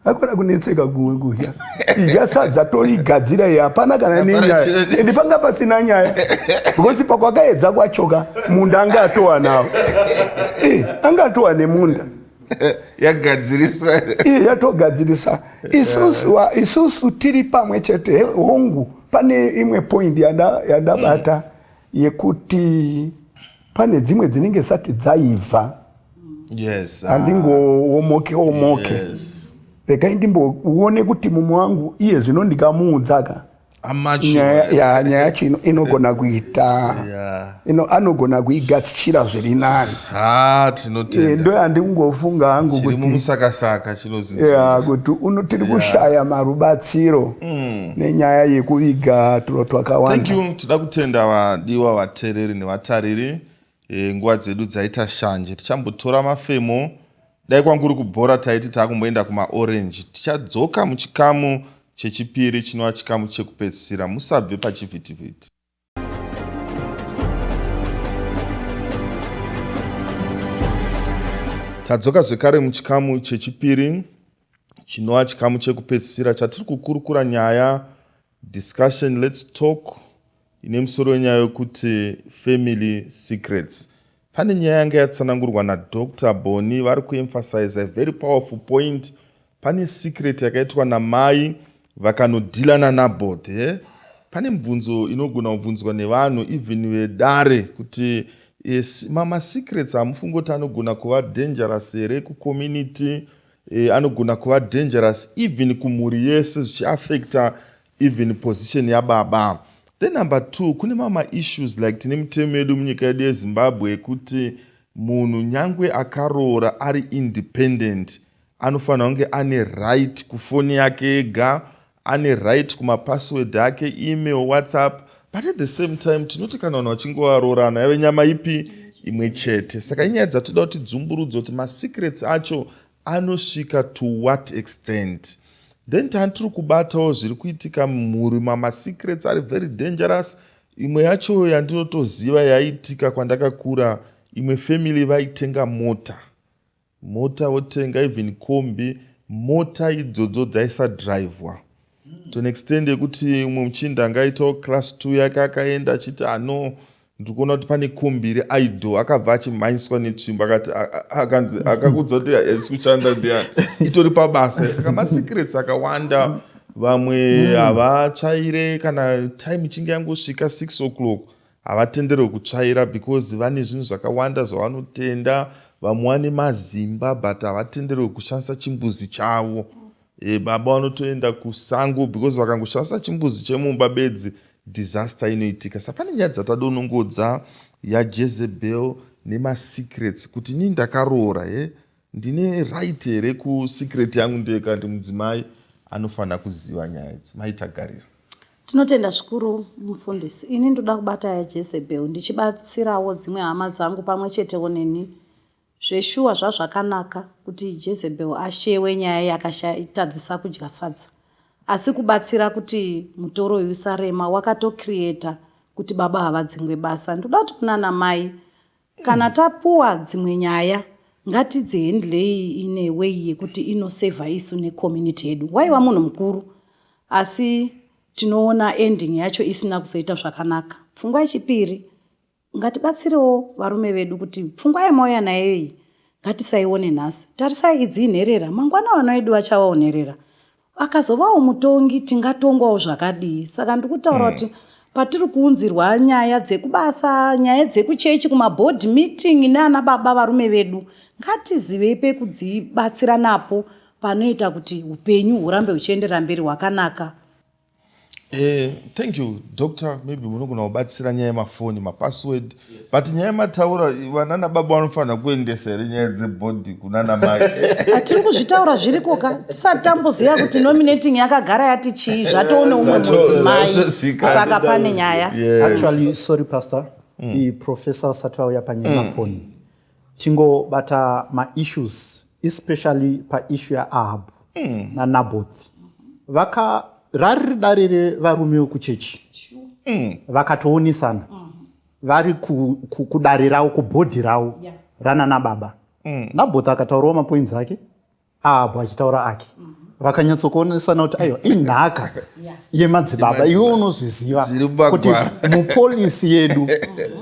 akona kunetseka guwe kudya idya sadza toigadzira iyi hapana kana nenyaya endi panga pasina nyaya because pakwakaedza kwachoka munda anga atowa nawo eh, anga atowa nemunda yagadziriswa eh, yatogadzirisa isusu tiri pamwe chete hongu pane imwe point yandabata yekuti pane dzimwe dzinenge sati dzaibva yes, ah. andingoomoke omoke yes. rekai ndimboone kuti mumwe wangu iye zvino ndikamuudzaka nyaya yacho inogona kuita anogona kuigadzira zviri nani eh, ndo yandingofunga hangu kuti tiri kushaya marubatsiro mm. nenyaya yekuviga turo twakawanda thank you tida kutenda vadiwa vatereri nevatariri e, nguva dzedu dzaita shanje tichambotora mafemo dai kwanguri kubhora taiti taakumboenda kumaorange tichadzoka muchikamu chechipiri chinova chikamu chekupedzisira musabve pachivhitivhiti tadzoka zvekare muchikamu chechipiri chinova chikamu chekupedzisira chatiri kukurukura nyaya discussion lets talk ine musoro wenyaya yokuti family secrets Pane nyaya yanga yatsanangurwa naDr Boni vari kuemphasize a very powerful point. Pane secret yakaitwa namai vakanodhila naNabot. He? Eh? Pane mibvunzo inogona kubvunzwa nevanhu even vedare kuti yes, mama secrets hamufungi kuti anogona kuva dangerous here kucommunity eh, anogona kuva dangerous even kumhuri yese zvichiaffecta even position yababa then number two kune mama issues like tine mitemo yedu munyika yedu yezimbabwe yekuti munhu nyangwe akaroora ari independent anofanira kunge ane right kufoni yake ega ane right kumapassword ake email whatsapp but at the same time tinoti kana vanhu vachinge varoorana yave nyama ipi imwe chete saka inyaya dzatoda kuti dzumburudzo kuti masecrets acho anosvika to what extent then tani tiri kubatawo zviri kuitika mumhuri mamasecrets ari very dangerous imwe yacho yandinotoziva yaiitika kwandakakura imwe family vaitenga mota mota votenga even kombi mota idzodzo dzaisadrivhwa to an extend yekuti umwe muchinda angaitawo class two yake akaenda achiti ano ndikuona kuti pane kumbiri idol akabva achimhanyiswa netsvimbo akati akanzi akakuudza kuti hesi kushanda ndiani itori pabasa saka masecrets akawanda vamwe hmm. havatsvaire kana time ichinge yangosvika six o'clock havatenderwe kutsvaira because vane zvinhu zvakawanda zvavanotenda vamwe vane mazimba but havatenderwe kushandisa chimbuzi chavo E, baba vanotoenda kusango because vakangoshandisa chimbuzi chemumba bedzi disaster inoitika sa pane nyaya dzatadonongodza yajezebel nemasecrets kuti nii ndakaroora he eh? ndine right here kusecret yangu ndeyekati mudzimai anofanira kuziva nyaya idzi maitagarira tinotenda zvikuru mufundisi ini ndoda kubata yajezebel ndichibatsirawo dzimwe hama dzangu pamwe chetewo neni Zveshuwa zvazvakanaka kuti Jezebel ashewe nyaya yakashaitadzisa kudya sadza asi kubatsira kuti mutoro uyu usarema wakatocreator kuti baba havadzingwe basa. Ndoda kuti kunana mai kana tapuwa dzimwe nyaya ngatidzihendlei ine way yekuti inosevha isu necommunity yedu. Waiva munhu mukuru asi tinoona ending yacho isina kuzoita zvakanaka. Pfungwa yechipiri Ngatibatsirewo varume vedu kuti pfungwa yamauya nayo iyi ngatisaione nhasi. Tarisai idzi inherera, mangwana vana vedu vachavawo nherera. Akazovawo mutongi tingatongwawo zvakadii? Saka ndiri kutaura kuti mm. patiri kuunzirwa nyaya dzekubasa, nyaya dzekuchechi, kumaboard meeting neana baba varume vedu, ngatizivei pekudzibatsira napo panoita kuti upenyu hurambe huchienderera mberi hwakanaka. Eh, thank you doctor maybe munogona kubatsira nyaya yemafoni mapassword yes. but nyaya yemataura vanana baba vanofanira kuendesa here nyaya dzebody kunana mai atiri kuzvitaura zviriko ka tisati tamboziva kuti nominating yakagara yati chii zvatoone umwe mudzimai saka pane nyaya actually sorry pastor mm. iprofessor vasati vauya panyaya yemafoni mm. tingobata maissues especially paissue yaahab mm. nanaboth vaka rari dare revarume vekuchechi mm. vakatoonesana mm vari kudare ravo kubhodhi ravo ranana baba mm. nabhota akataurawo mapoints ake ahabhu achitaura ake mm -hmm vakanyatsokuonesana kuti aiwa inhaka yemadzibaba iwe unozviziva kuti mupolisi yedu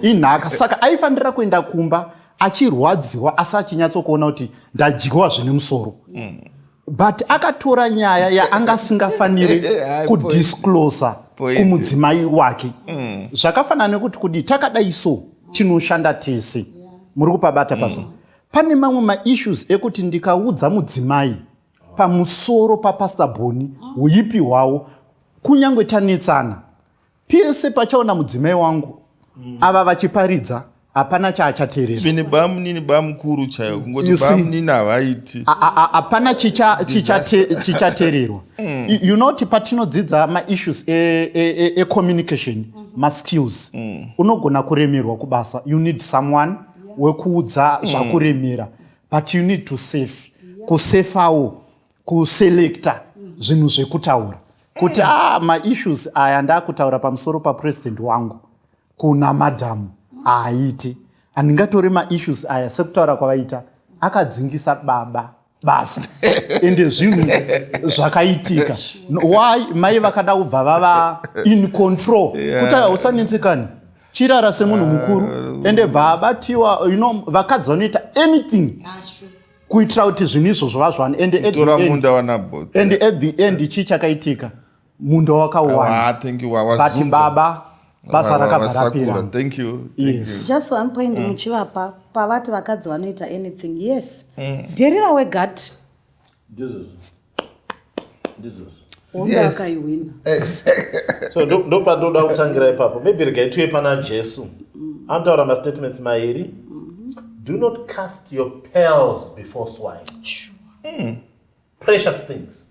inhaka saka aifanira kuenda kumba achirwadziwa asi achinyatsokuona kuti ndadyiwa zvine musoro mm. but akatora nyaya yaanga asingafaniri kudisclosa kumudzimai wake mm. zvakafanana nekuti kudii takadai so chinoshanda tese muri kupabata pasa mm. pane mamwe maissues ekuti ndikaudza mudzimai pamusoro papastor boni uipi hwawo kunyange tanetsana pese pachaona mudzimai wangu ava vachiparidza hapana chaachateerera bamunini bamukuru chaiwo kungoti bamunini havaiti hapana chichateererwa mm. you know kuti patinodzidza maissues ecommunication e, e, e, maskills mm. unogona kuremerwa kubasa you need someone wekuudza zvakuremera but you need to safe kusefawo kuselecta zvinhu zvekutaura kuti eh. ah, maissues aya ndakutaura pamusoro papresident wangu kuna madhamu haaiti handingatore maissues aya sekutaura kwavaita akadzingisa baba basa ende zvinhu zvakaitika why mai vakada kubva vava in control kuti hausanetsekani chirara semunhu mukuru ah, ende bva abatiwa you know vakadzi vanoita anything kuitira kuti zvinhu izvo zvova zvani ende at the end chii chakaitika munda wakauwanabati baba basa rakabvarapira thank you yes just one point mm. muchivapa pavati vakadzi vanoita anything yes mm. dherira wegati ndizvozvo ndizvozvo so ndopatoda kutangira ipapo maybe regai tuye pana jesu mm. anotaura mastatements mairi mm-hmm. do not cast your pearls before swine sure. mm. precious things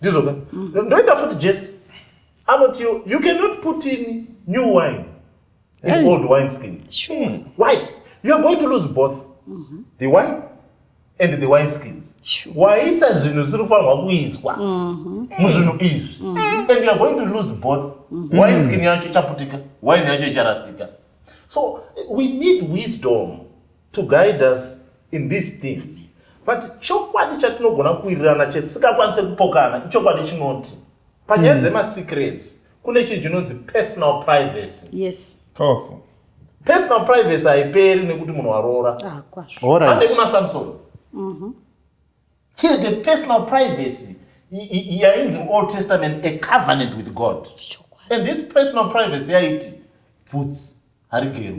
ndizvo ka ndoita futi jesi anoti you cannot put in new wine in hey. old wine skins sure. mm. why you are going to lose both mm -hmm. the wine and the wine skins sure. waisa zvinhu zvisiri kufanirwa kuiswa mm-hmm. muzvinhu izvi mm -hmm. and you are going to lose both mm -hmm. wine skin yacho ichaputika wine yacho icharasika so we need wisdom to guide us in these things but chokwadi chatinogona kuwirirana chetisingakwanise kupokana ichokwadi chinoti panyaya mm. dzemasecrets kune chinhu chinonzi personal privacy yes powerful personal privacy haiperi nekuti munhu waroora ah, ande kuna samson mhm. here the personal privacy yainzi old testament a covenant with god and this personal privacy yaiti bvudzi harigero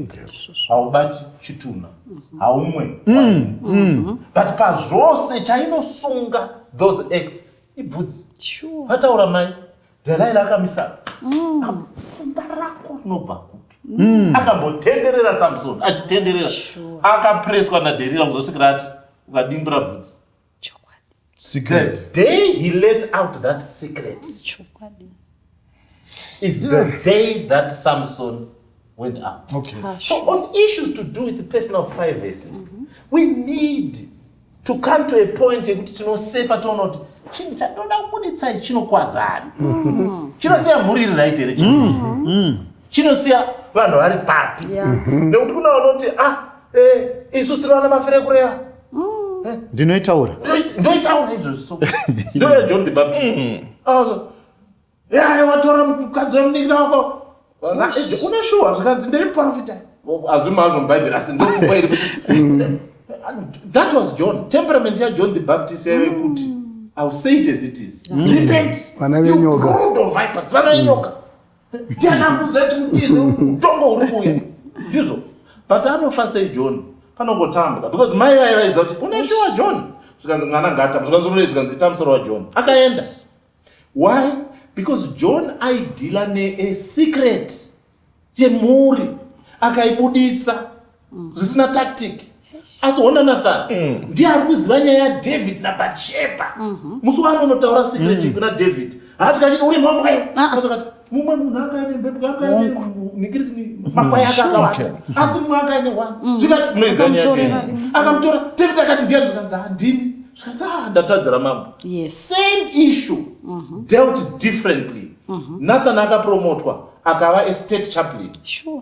haubati chitunha haumwe mm, mm. but pazvose chainosunga those acts ibvudzi vataura mai dhalai rakamisa mm. ah, simba rako rinobva kupi mm. akambotenderera samson achitenderera akapreswa naderira kuzosvikira ati ukadimbura bvudzi secret. The day he let out that secret is the day that Samson went out. Okay. Ah, so on issues to do with personal privacy, mm -hmm. we need to come to a point yekuti tinosefa toona kuti chinhu chatoda kubuditsa chinokwadza ani mm. chinosiya mhuri iri right here chii mm. chinosiya vanhu vari papi mhm. nekuti kuna vanoti ah eh, isu tiri vana mafire kureva mm. eh. ndinoitaura ndoitaura izvozvo ndoya john debab mm. ah, yai watora mukadzi wemunikina wako une shuwa zvikanzi ndiri muprofita hazvimo hazvo mubhaibheri asi ndofunga iri mm. that was john temperament yajohn the baptist yaive kuti ill say it as it is repent vana venyoka vana venyoka Ndianambudza timutize mutongo uri kuuya. Ndizvo. But anofa sei John? Panongotambwa because mai vaye vaiziva kuti une shuwa John. Zvikanzi mwana ngatamba. Zvikanzi unoita zvikanzi ita musoro waJohn. Akaenda. Why? Because John aidhila ne a secret yemhuri akaibuditsa mm. zvisina tactic asi hona nathan mm. ndiye ari kuziva nyaya yadavid nabatsheba mhm. musi waanonotaura secret mm. kuna david haati kachiti uri mhamwayo ah. aakati mumwe munhu akaine mbepo akaine makwai ake akawanda asi mumwe akaine wani mm. zvikati munoiziva nyaya akamutora david akati ndiye ndikanzi handini zvikanzi ah, ndatadzira mambo same issue mhm. dealt differently mhm. nathan akapromotwa akava estate chaplain sure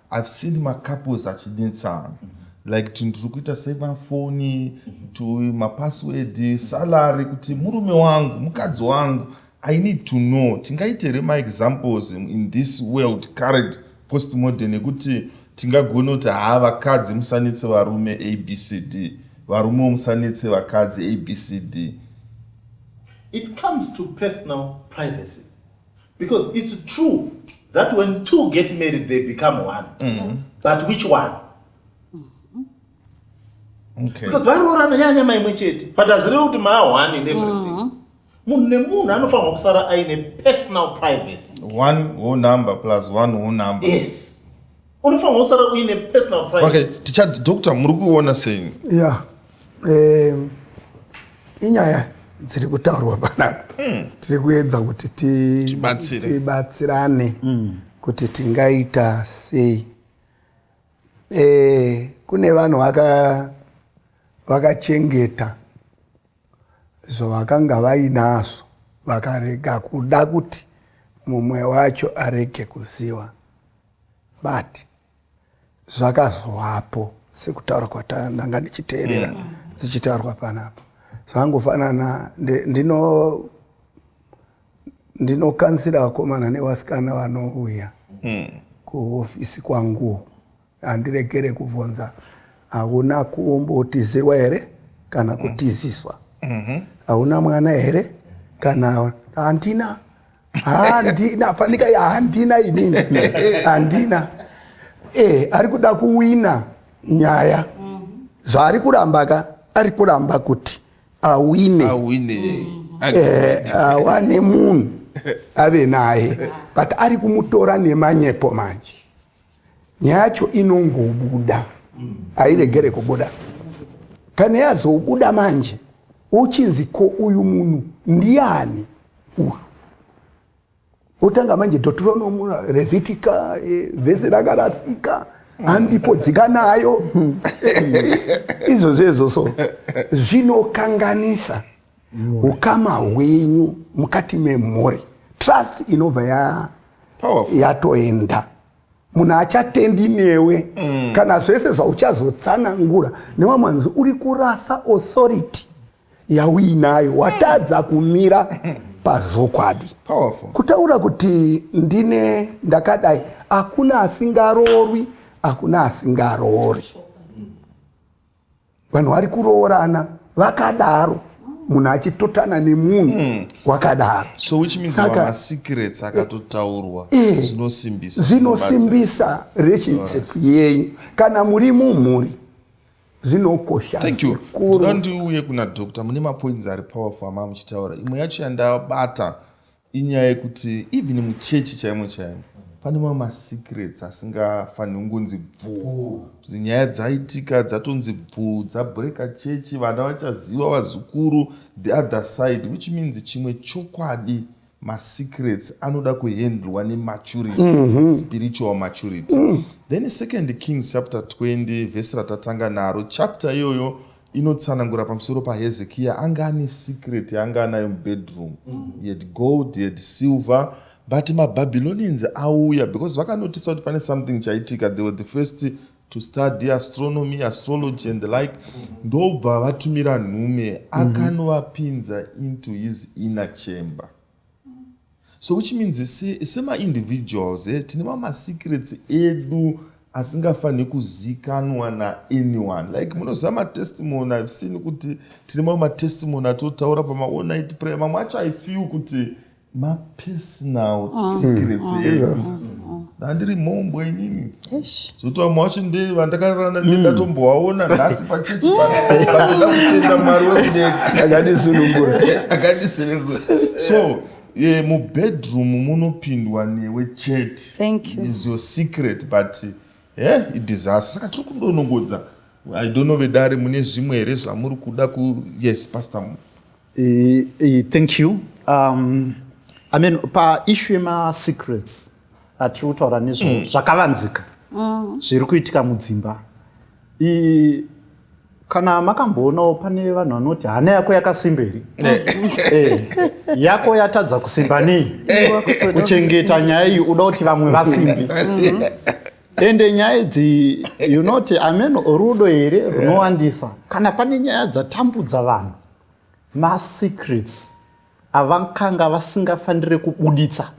I've seen macouples achinetsana mm -hmm. like kuti ndiri kuita sei mafoni mm -hmm. to mapassword mm -hmm. salary kuti murume wangu mukadzi wangu i need to know tingaite here maexamples in this world current post modern ekuti tingagona kuti haa vakadzi musanetse varume abcd varume musanetse vakadzi abcd it comes to personal privacy because it's true that when two get married they become one mm -hmm. but which one okay. because varoorana nyanya maimwe chete but hazireve kuti maa one in everything mm -hmm. munhu nemunhu anofanirwa kusara aine personal privacy one whole number plus one whole number yes unofanirwa kusara uine personal privacy okay ticha doctor muri kuona sei yeah eh inyaya dziri kutaurwa panapa hmm. tiri kuedza kuti tibatsirane hmm. kuti tingaita sei eh, kune vanhu vakachengeta zvavakanga vainazvo vakarega kuda kuti mumwe wacho arege kuziva but zvakazovapo sekutaura kwatananga ndichiteerera mm. zvichitaurwa panapa zvangofanana ndino ndinokansira vakomana nevasikana vanouya mm. kuhofisi kwangu handiregere kubvunza hauna kumbotizirwa here kana mm. kutiziswa mm-hmm. hauna mwana here kana handina handina fanika handina inini handina eh ari kuda kuwina nyaya zvaari kuramba ka ari kuramba kuti awine awine eh awane munhu ave naye but ari kumutora nemanyepo manje nyaya yacho inongobuda hairegere kubuda kana yazobuda manje uchinzi ko uyu munhu ndiani uyu otanga manje deuteronomu revitika eh, vhese rakarasika handipo dzika nayo izvo zvezvo so zvinokanganisa ukama hwenyu mukati memhuri trust inobva ya yatoenda munhu achatendi newe mm. kana zvese zvauchazotsanangura newa manzi uri kurasa authority yauinayo watadza kumira pazokwadi kutaura kuti ndine ndakadai hakuna asingaroorwi hakuna asingaroori vanhu vari kuroorana vakadaro munhu achitotana nemunhu hmm. wakadaro so which means saka secrets akatotaurwa eh, eh, zvinosimbisa zvinosimbisa relationship yenyu kana muri mumhuri zvinokosha thank you ndinoda ndiuye kuna doctor mune mapoints ari powerful amava muchitaura imwe yacho yandabata inyaya yekuti even muchechi chaimo chaimo pane mamwe masecrets asingafaniri kungonzi bvuu nyaya dzaitika dzatonzi bvuu dzabreka chechi vana vachaziva vazukuru the other side which means chimwe chokwadi masecrets anoda kuhandlwa nematurity mm -hmm. spiritual maturity mm. then second kings chapter 20 vhesi ratatanga naro chapter iyoyo inotsanangura pamusoro pahezekiya anga ane secret yaanga anayo mubedroom mm. he had gold he had silver but mababylonians auya because vakanotisa kuti pane something chaitika they were the first to study astronomy astrology and the like mm. ndobva vatumira nhume mm-hmm. akanovapinza into his inner chamber so which means semaindividuals eh, tine mamasecrets edu asingafanhi kuzikanwa naanyone like munoziva matestimony ive seen kuti tine mamwe matestimony atotaura pamaonight prayer mamwe acho i feel kuti mapersonal mm. secrets mm. edu mm. handiri mhombwe inini zoti vamwe vacho ndevandakarana mm. ndedatombovaona nhasi pachechi panoda kutenda mwari wekudega akandisunungura akandisunungura so ye mubedroom munopindwa newe chete is your secret but he eh, idisaster saka tiri kudonongodza i don't know vedare mune zvimwe here zvamuri kuda ku yes pastor mu eh, eh, thank you um, i mean paishu yemasecrets atiri kutaura nezvo mm. zvakavanzika mm. zviri kuitika mudzimba I, kana makamboonawo pane vanhu vanoti hana yako yakasimba here eh. eh, yako yatadza kusimba nei eh. kuchengeta nyaya iyi uda kuti vamwe vasimbi mm-hmm. ende nyaya idzi you not amen rudo here runowandisa kana pane nyaya dzatambudza vanhu masecrets avakanga vasingafanire kubuditsa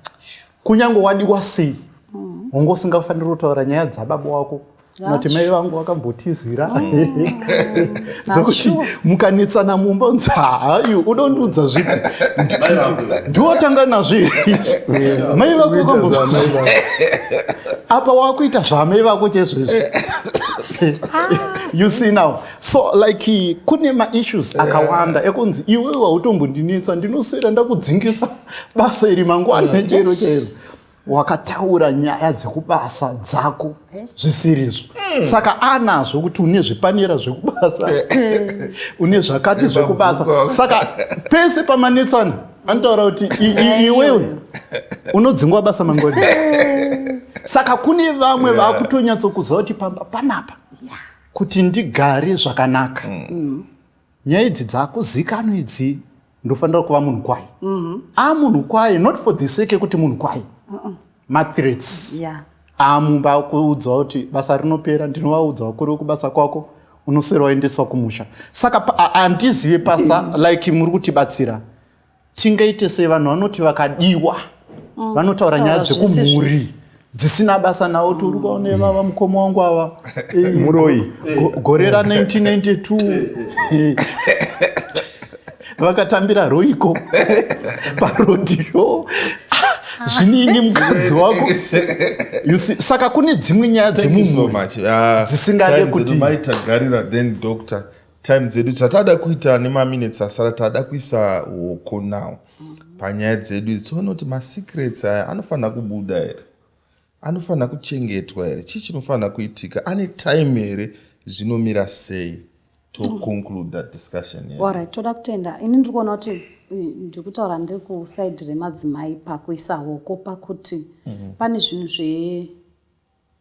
kunyange wadiwa sei mm. wanga usingafanire kutaura nyaya dzababa wako noti mai vangu vakambotizira mm. zvokuti mukanetsana mumba unzi haayu uda undiudza zvipi ndiwotanga nazvo mai vako vakambo apa wakuita zvamai vako chezvezvi ah. you see now so like kune maissues yeah. akawanda ekunzi iwe wautombondinetsa ndinoswera ndakudzingisa basa iri mangwana mm. chero chero wakataura nyaya dzekubasa dzako zvisirizvo mm. saka anazvo kuti une zvipanera zvekubasa une zvakati zvekubasa saka pese pamanetsana anotaura kuti iwewe unodzingwa basa mangoni saka kune vamwe vakutonyatsokuziva kuti pamba panapa yeah. kuti ndigare zvakanaka mm. mm. nyaya idzi dzakuzikano idzi ndofanira kuva munhu kwai mm-hmm. a munhu kwai not for the sake ekuti munhu kwai mathreats amumba kuudzwa kuti basa rinopera ndinovaudzawo kuri wekubasa kwako unoswera waendeswa kumusha saka handizive pasa like muri kutibatsira tingaite sei vanhu vanoti vakadiwa mm. vanotaura nyaya dzekumhuri dzisina basa nawo ti uri kwaone mm. vava mukoma wangu ava muroi gore ra 1992 vakatambira roiko parodhiyo zvinini mukadzi wako saka kune dzimwe nyaya dzemumhuri ah, dzisingade kuti time dzedu zvatada kuita nemaminutes asara tada kuisa hoko now panyaya dzedu idzi toona kuti masecrets aya anofanira kubuda here anofanira kuchengetwa here chii chinofanira kuitika ane time here zvinomira sei toconcluda discussion orit toda kutenda ini ndiri kuona kuti ndiri kutaura ndiri kusaidi remadzimai pakuisa hoko pakuti mm -hmm. pane zvinhu zve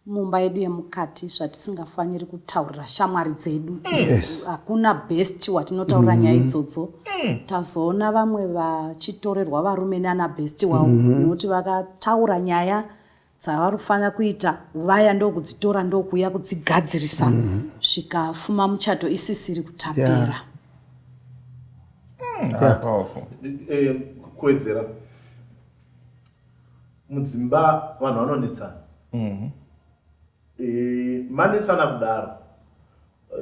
mumba yedu yemukati zvatisingafaniri kutaurira shamwari dzedu hakuna yes. best watinotaurira mm. nyaya mm-hmm. idzodzo mm. tazoona vamwe vachitorerwa varume nana best wavo mm -hmm. nokuti vakataura nyaya dzavari kufanira kuita vaya ndokudzitora ndokuuya kudzigadzirisa mm -hmm. zvikafuma muchato isisiri kutapira yeah. mm, yeah. yeah. kuwedzera mudzimba vanhu vanonetsana mm-hmm. eh, manetsana kudaro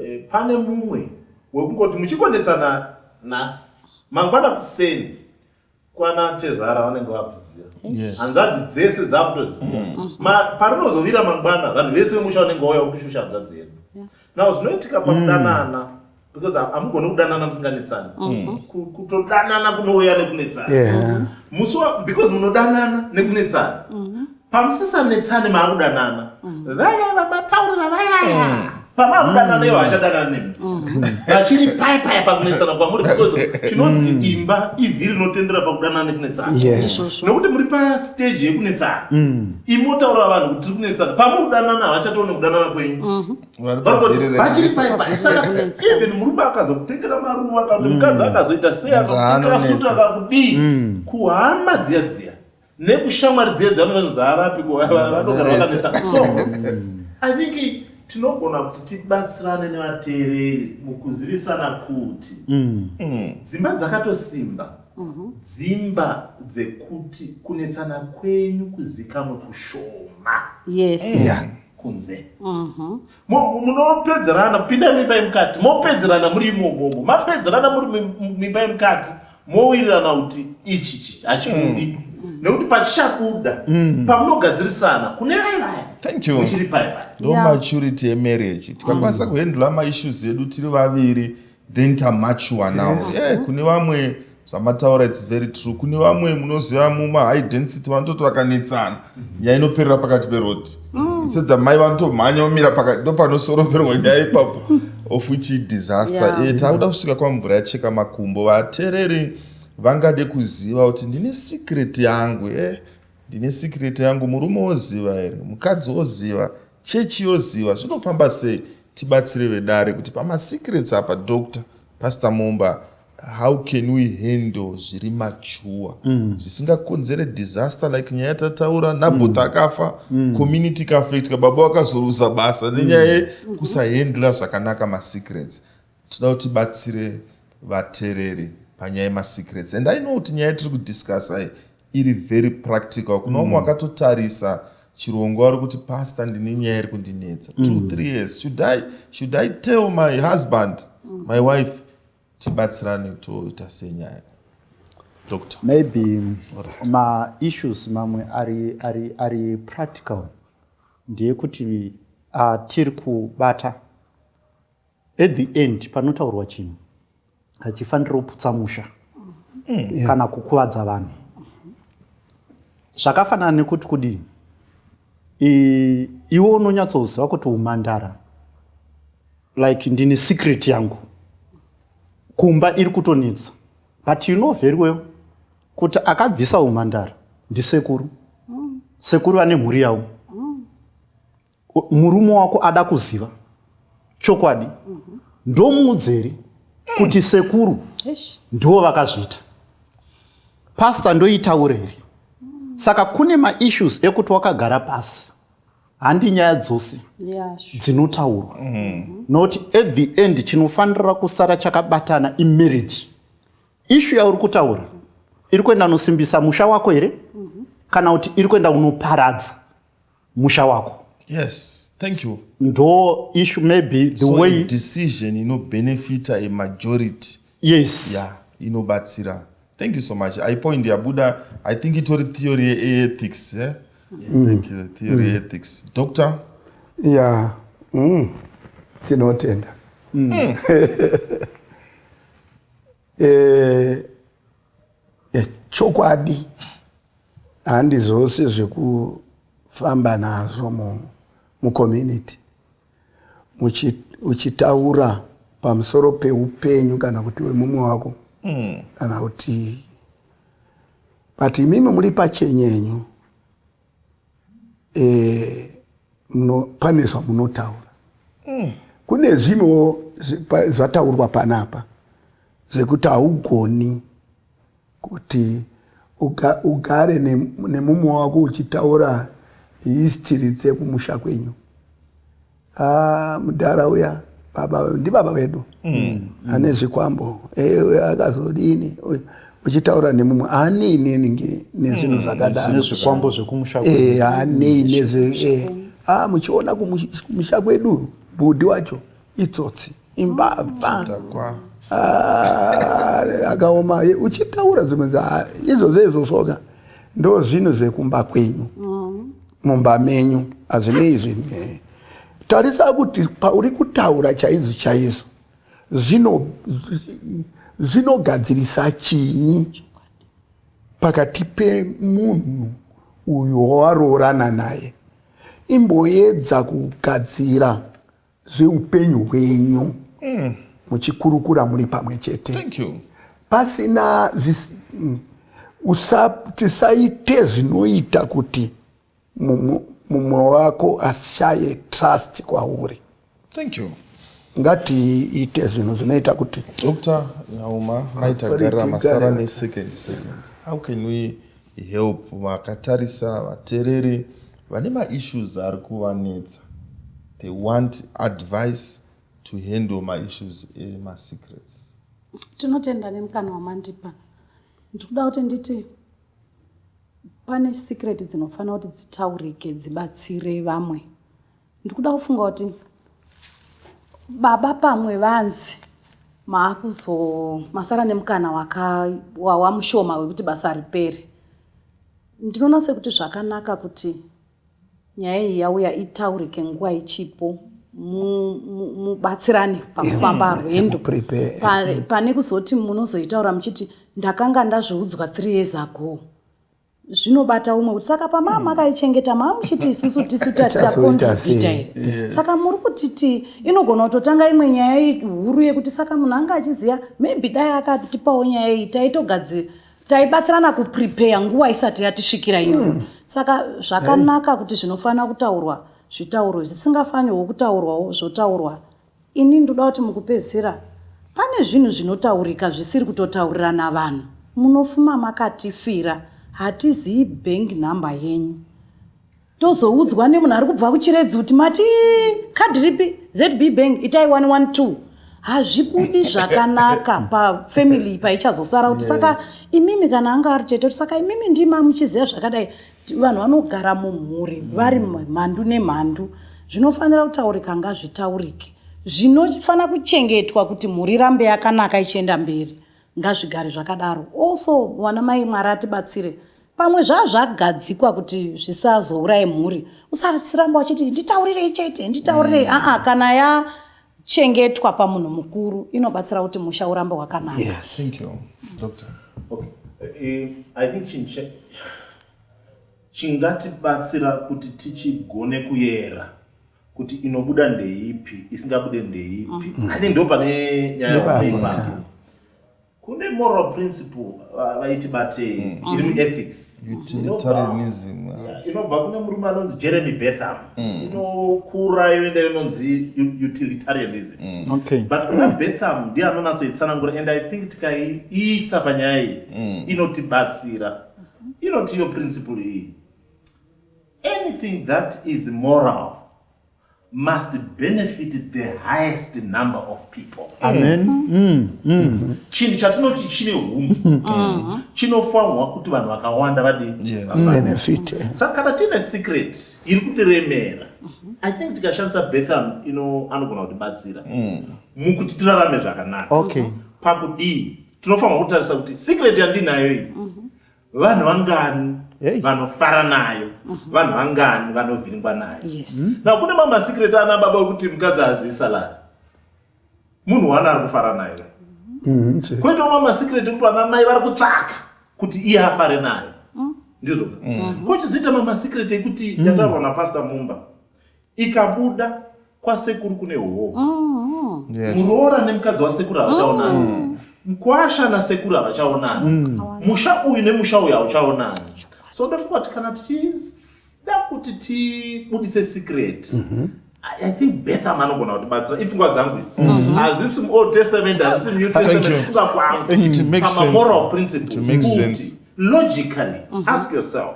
eh, pane mumwe wekungoti muchikonetsana nhasi mangwana kuseni kwana tezvara vanenge vakuziva hanzvadzi dzese dzakutoziva mm-hmm. parinozovira mangwana vanhu vese vemusha vanenge vauya kushusha hanzvadzi yedu nao zvinoitika pakudanana mm. because hamugoni kudanana musinganetsani mm-hmm. kutodanana kunouya nekunetsana musi because munodanana nekunetsana mm-hmm. pamusisanetsani maakudanana mm-hmm. vaya vamataurira vayaya mm. pamaakudanana ivo hachadanana nemi vachiri paya paya pakunetsana kwamuri because chinonzi mm. imba ivhi rinotendera pakudanana nekunetsana nokuti muri pasteji yekunetsana mm. imotaurira vanhu kuti tiri kunetsana pamuri kudanana havachatoone kudanana kwenyu vachiri paipaeven murume akazokutengera maruva kana mm. mukadzi akazoita sei akakutengera suti akakudii mm. kuhama dziya dziya nekushamwari dziya dzameno dzaavapi vanogara vakanetsa so mm. i think tinogona kuti tibatsirane nevateereri mukuzivisana kuti dzimba dzakatosimba mhm. dzimba dzekuti kunetsana kwenyu kuzikamwe kushoma yes yeah. yeah. kunze mhm. munopedzerana pinda mimba yemukati mopedzerana muri imomomo mapedzerana muri mimba yemukati mowirirana kuti ichi chichi hachibudi mm. Mm. nekuti pachichabuda mm. pamunogadzirisana kune vaivayamuchiri paipai ndo maturity yemarriage tikakwanisa kuhandla maissues edu tiri vaviri then tamature now yes. yeah, kune vamwe zvamataura its very true kune vamwe munoziva muma high density vanototi vakanetsana mhm. nyaya inoperera pakati peroad mm. isedha mai vanotomhanya omira pakati ndopanosoroverwa nyaya ipapo of which disaster yeah. e, eh, takuda kusvika kwamvura yacheka makumbo vatereri vangade kuziva kuti ndine secret yangu e eh, ndine secret yangu murume oziva here mukadzi oziva Chechi yoziva zvinofamba sei tibatsire vedare kuti pamasecrets apa doctor pastor mumba how can we handle zviri machuwa mm. zvisingakonzere disaster like nyaya yatataura nabota mm. akafa mm. community kafetika baba vakazoruza basa nenyaya yekusahandla zvakanaka masecrets Tinoda kuti batsire vatereri panyaya yemasecrets and i know kuti nyaya tiri kudiscussa iri very practical kuna umwe mm. wakatotarisa chirongwa wari kuti pasta ndine nyaya iri kundinetsa mm. two three years should i, should I tell my husband mm. my wife tibatsirane toita senyaya doctor maybe maissues mamwe ari, ari, ari practical ndeyekuti uh, tiri kubata at the end panotaurwa chinhu hachifaniri kuputsa musha mm. kana kukuvadza vanhu zvakafanana nekuti kudii iwe unonyatsoziva kuti umandara like ndine secret yangu kumba iri kutonetsa but you know very well kuti akabvisa umandara ndisekuru mm. sekuru vane mhuri yavo murume wako ada kuziva chokwadi ndomuudzeri kuti sekuru ndivo vakazviita pasta ndoitaure here saka kune maissues ekuti wakagara pasi handi nyaya dzose dzinotaurwa mm-hmm. not at the end chinofanira kusara chakabatana imarriage ishu yauri kutaura iri kuenda unosimbisa musha wako here mm-hmm. kana kuti iri kuenda unoparadza musha wako yes thank you ndo issue maybe the so way decision inobenefita a majority yes yeah inobatsira thank you so much i point yabuda i think itori theory yeethics eh? mm. thank you theory mm. ethics doctor yeah mm. tinotenda mm. mm. eh, eh, chokwadi handi zvose zvekufamba nazvo mucommunity uchitaura pamusoro peupenyu kana kuti wemumwe wako mm. kana kuti but imimi muri pachenyenyu eh, no, pane zvamunotaura mm. kune zvimwewo zvataurwa panapa zvekuti haugoni kuti ugare nemumwe wako uchitaura histiri dzekumusha kwenyu Ah, mudhara uya baba ndibaba vedu mm. ane zvikwambo eh, akazodini uchitaura nemumwe haanei neningi nezvinhu mm. zvakadaro zvikwambo zvekumusha eh, haanei nezve ah, muchiona kumusha kwedu bhudhi wacho itsotsi imbavha ah, akaoma uchitaura zvimwe izvo zveizvosoka ndo zvinhu zvekumba kwenyu mm. mumba menyu hazvinei izvi tarisa kuti pauri kutaura chaizvo chaizvo zvinogadzirisa chinyi pakati pemunhu uyo wawaroorana naye imboedza kugadzira zveupenyu hwenyu mm. muchikurukura muri pamwe chete pasina mm, tisaite zvinoita kuti mumwe wako ashaye trust kwauri Thank you. ngatiite zvinhu zvinoita kuti dr nyauma maitagarira masara nesecond second how can we help vakatarisa vatereri Vane ma issues ari kuvanetsa. They want advice to handle ma issues ema secrets. Tinotenda nemukana wamandipa. Ndikuda kuti nditi pane secret dzinofanira kuti dzitaurike dzibatsire vamwe. Ndikuda kufunga kuti baba pamwe vanzi maakuzo masara nemukana wakawawa mushoma wekuti basa ripere Ndinoona sekuti zvakanaka kuti nyaya iyi yauya itaurike nguva ichipo mubatsirane mu, mu pakufamba mm, rwendo mm. pane kuzoti munozoitaura muchiti ndakanga ndazviudzwa three years ago zvinobata umwe kuti saka pamaa mm. makaichengeta maa muchiti isusu tisu takonvita here saka muri kutiti inogona kutotanga imwe nyaya huru yekuti saka munhu anga achiziva maybe dai akatipawo nyaya iyi taitogadzira taibatsirana kuprepare nguva isati yatisvikira iyo mm. saka zvakanaka kuti zvinofanira kutaurwa zvitaurwe zvisingafanirwo kutaurwawo zvotaurwa ini ndoda kuti mukupedzisira pane zvinhu zvinotaurika zvisiri kutotaurirana vanhu munofuma makatifira hatizivi bank number yenyu tozoudzwa nemunhu ari kubva kuchiredzi kuti mati kadhi ripi zb bank itai 112 hazvibudi zvakanaka pafamily paichazosara kuti saka imimi kana anga ari tete kuti saka imimi ndima muchiziva zvakadai vanhu vanogara mumhuri vari mhandu nemhandu zvinofanira kutaurika ngazvitaurike zvinofanira kuchengetwa kuti mhuri rambe yakanaka ichienda mberi Ngazvigare zvakadaro. Also mwana mai Mwari atibatsire. Pamwe zvazvagadzikwa kuti zvisazouraye mhuri. Usasiramba uchiti nditaurirei chete, nditaurirei. Mm. Ah, ah, kana ya chengetwa pamunhu mukuru inobatsira kuti musha urambe wakanaka. Yes. Thank you. Doctor. Okay. Uh, I think she, she chingatibatsira kuti tichigone kuyera kuti inobuda ndeipi isingabude ndeipi mm -hmm. i think ndo pane nyaya kune moral principle vaiti batei mm. iri mm-hmm. muethics utilitarianism inobva kune murume anonzi jeremy betham mm. inokura yoenda inonzi utilitarianism mm. okay. but kuna betham ndiye anonatsoitsanangura and i think tikaiisa panyaya iyi inotibatsira inoti iyo principle iyi Anything that is moral must benefit the highest number of people. Amen. Mm. Mm. Chinhu chatinoti chine hunhu mm. chinofanirwa kuti vanhu vakawanda vadebenefit. Mm. Saka kana tiine secret iri kutiremera, mm-hmm. I think tikashandisa Betham ino anogona kutibatsira mm. mukuti tirarame zvakanaka. Okay. Mm-hmm. Pakudii tinofanirwa kutarisa kuti secret yandinayo iyi mm-hmm. vanhu vangani vanofara nayo mhm. vanhu vangani vanovhiringwa nayo hmm? na kune mamasikireti ana baba wekuti mukadzi haazivi salari munhu wani ari kufara nayo mhm, kwoitawo mamasikireti ekuti vana mai vari kutsvaka kuti iye afare nayo mm. ndizvo mm. kwochizoita mamasikireti ekuti mm. yataurwa napastor mumba ikabuda kwasekuru kune hoho mm-hmm. muroora nemukadzi wasekuru havachaonani mm. mkwasha nasekuru havachaonani mm. musha uyu nemusha uyu hauchaonani so ndofunga kuti kana tichida kuti tibudise secret mm-hmm. I think Betham anogona kutibatsira ipfungwa dzangu idzi mm-hmm. hazvisi muold testament hazvisi new testament funga kwangu pamamoral principles logically ask yourself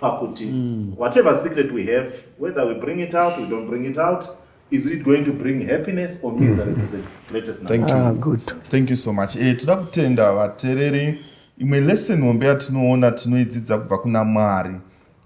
pakuti mm. whatever secret we have whether we bring it out we don't bring it out is it going to bring happiness or misery to the greatest number? Thank you. Ah, good. Thank you so much. Eh, toda kutenda vatereri. Imwe lesson hombe yatinoona tinoidzidza kubva kuna Mwari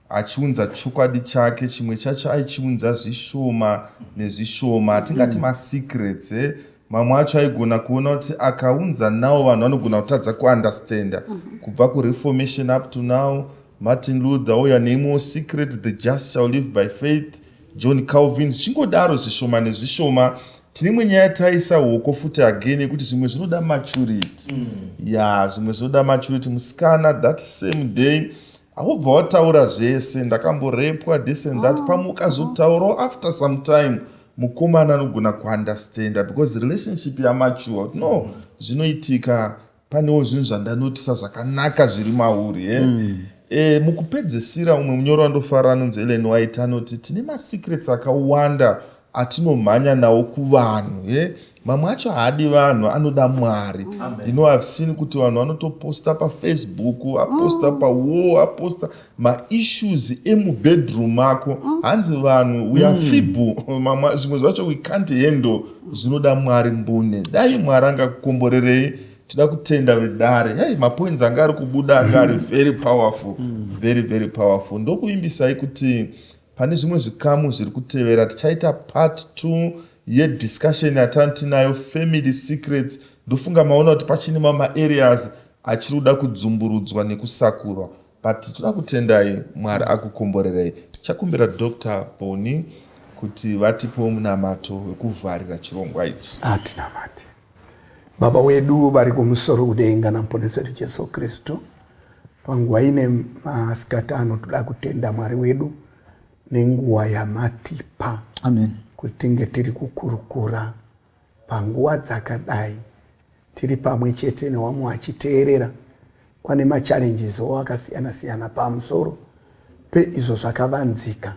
achiunza chokwadi chake chimwe chacho aichiunza zvishoma nezvishoma tingati mm. masecrets eh? mamwe acho aigona kuona kuti akaunza nawo vanhu vanogona kutadza kuunderstanda mm -hmm. kubva kureformation up to now martin luther oya neimwewo secret the just shall live by faith john calvin zvichingodaro zvishoma nezvishoma tine imwe nyaya taisa hoko futi again yekuti zvimwe zvinoda maturity mm. ya yeah, zvimwe zvinoda maturity musikana that same day Aubva wataura zvese ndakamborepwa this and that ah, pamwe ukazotaurawo ah. after some time mukomana anogona kuunderstanda because relationship yamature no zvinoitika panewo zvinhu zvandanotisa zvakanaka zviri mauri e eh? mm. e, mukupedzisira umwe munyoro wandofara anonzi elen white anoti tine masecrets akawanda atinomhanya nawo kuvanhu e mamwe acho haadi vanhu anoda mwari you know i've seen kuti vanhu vanotoposta pafacebook aposta mm. pawall aposta maissues emubedroom ako mm. hanzi vanhu we are mm. feeble zvimwe zvacho we can't handle zvinoda mwari mbune dai mwari angakukomborerei tida kutenda vedare hei mapoints anga ari kubuda anga ari very powerful very very powerful ndokuvimbisai kuti pane zvimwe zvikamu zviri kutevera tichaita part two ye discussion yatani tinayo family secrets ndofunga maona kuti pachine mama areas achiri kuda kudzumburudzwa nekusakurwa but tinoda kutendai mwari akukomborerei chakumbira dr boni kuti vatipewo munamato wekuvharira chirongwa ichi atinamati baba wedu vari kumusoro kudenga namuponesi wedu jesu kristu panguva ine masikati ano toda kutenda mwari wedu nenguva yamatipa Amen. kuti tinge tiri kukurukura panguva dzakadai tiri pamwe chete newamwe wachiteerera kwane machallenges wo akasiyana siyana pamusoro peizvo zvakavanzika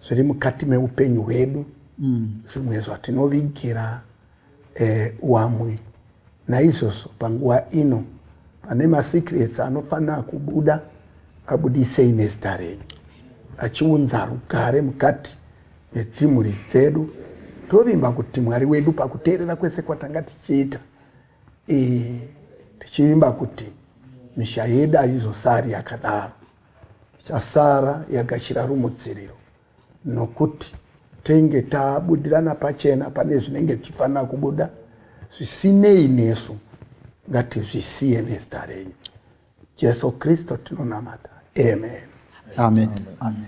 zviri mukati meupenyu hwedu mm. zvimwe mm. zvatinovigira e, wamwe. Naizvozvo panguva ino pane masecrets anofanira kubuda abudisei nezita renyu achiunza rugare mukati medzimhuri dzedu tovimba kuti mwari wedu pakuteerera kwese kwatanga tichiita e, tichivimba kuti misha yedu aizosari yakadaro ichasara yagashira rumutsiriro nokuti tenge tabudirana pachena pane zvinenge zvichifanira kubuda zvisinei nesu ngatizvisiye nezita renyu jesu kristu tinonamata amen amen, amen. amen.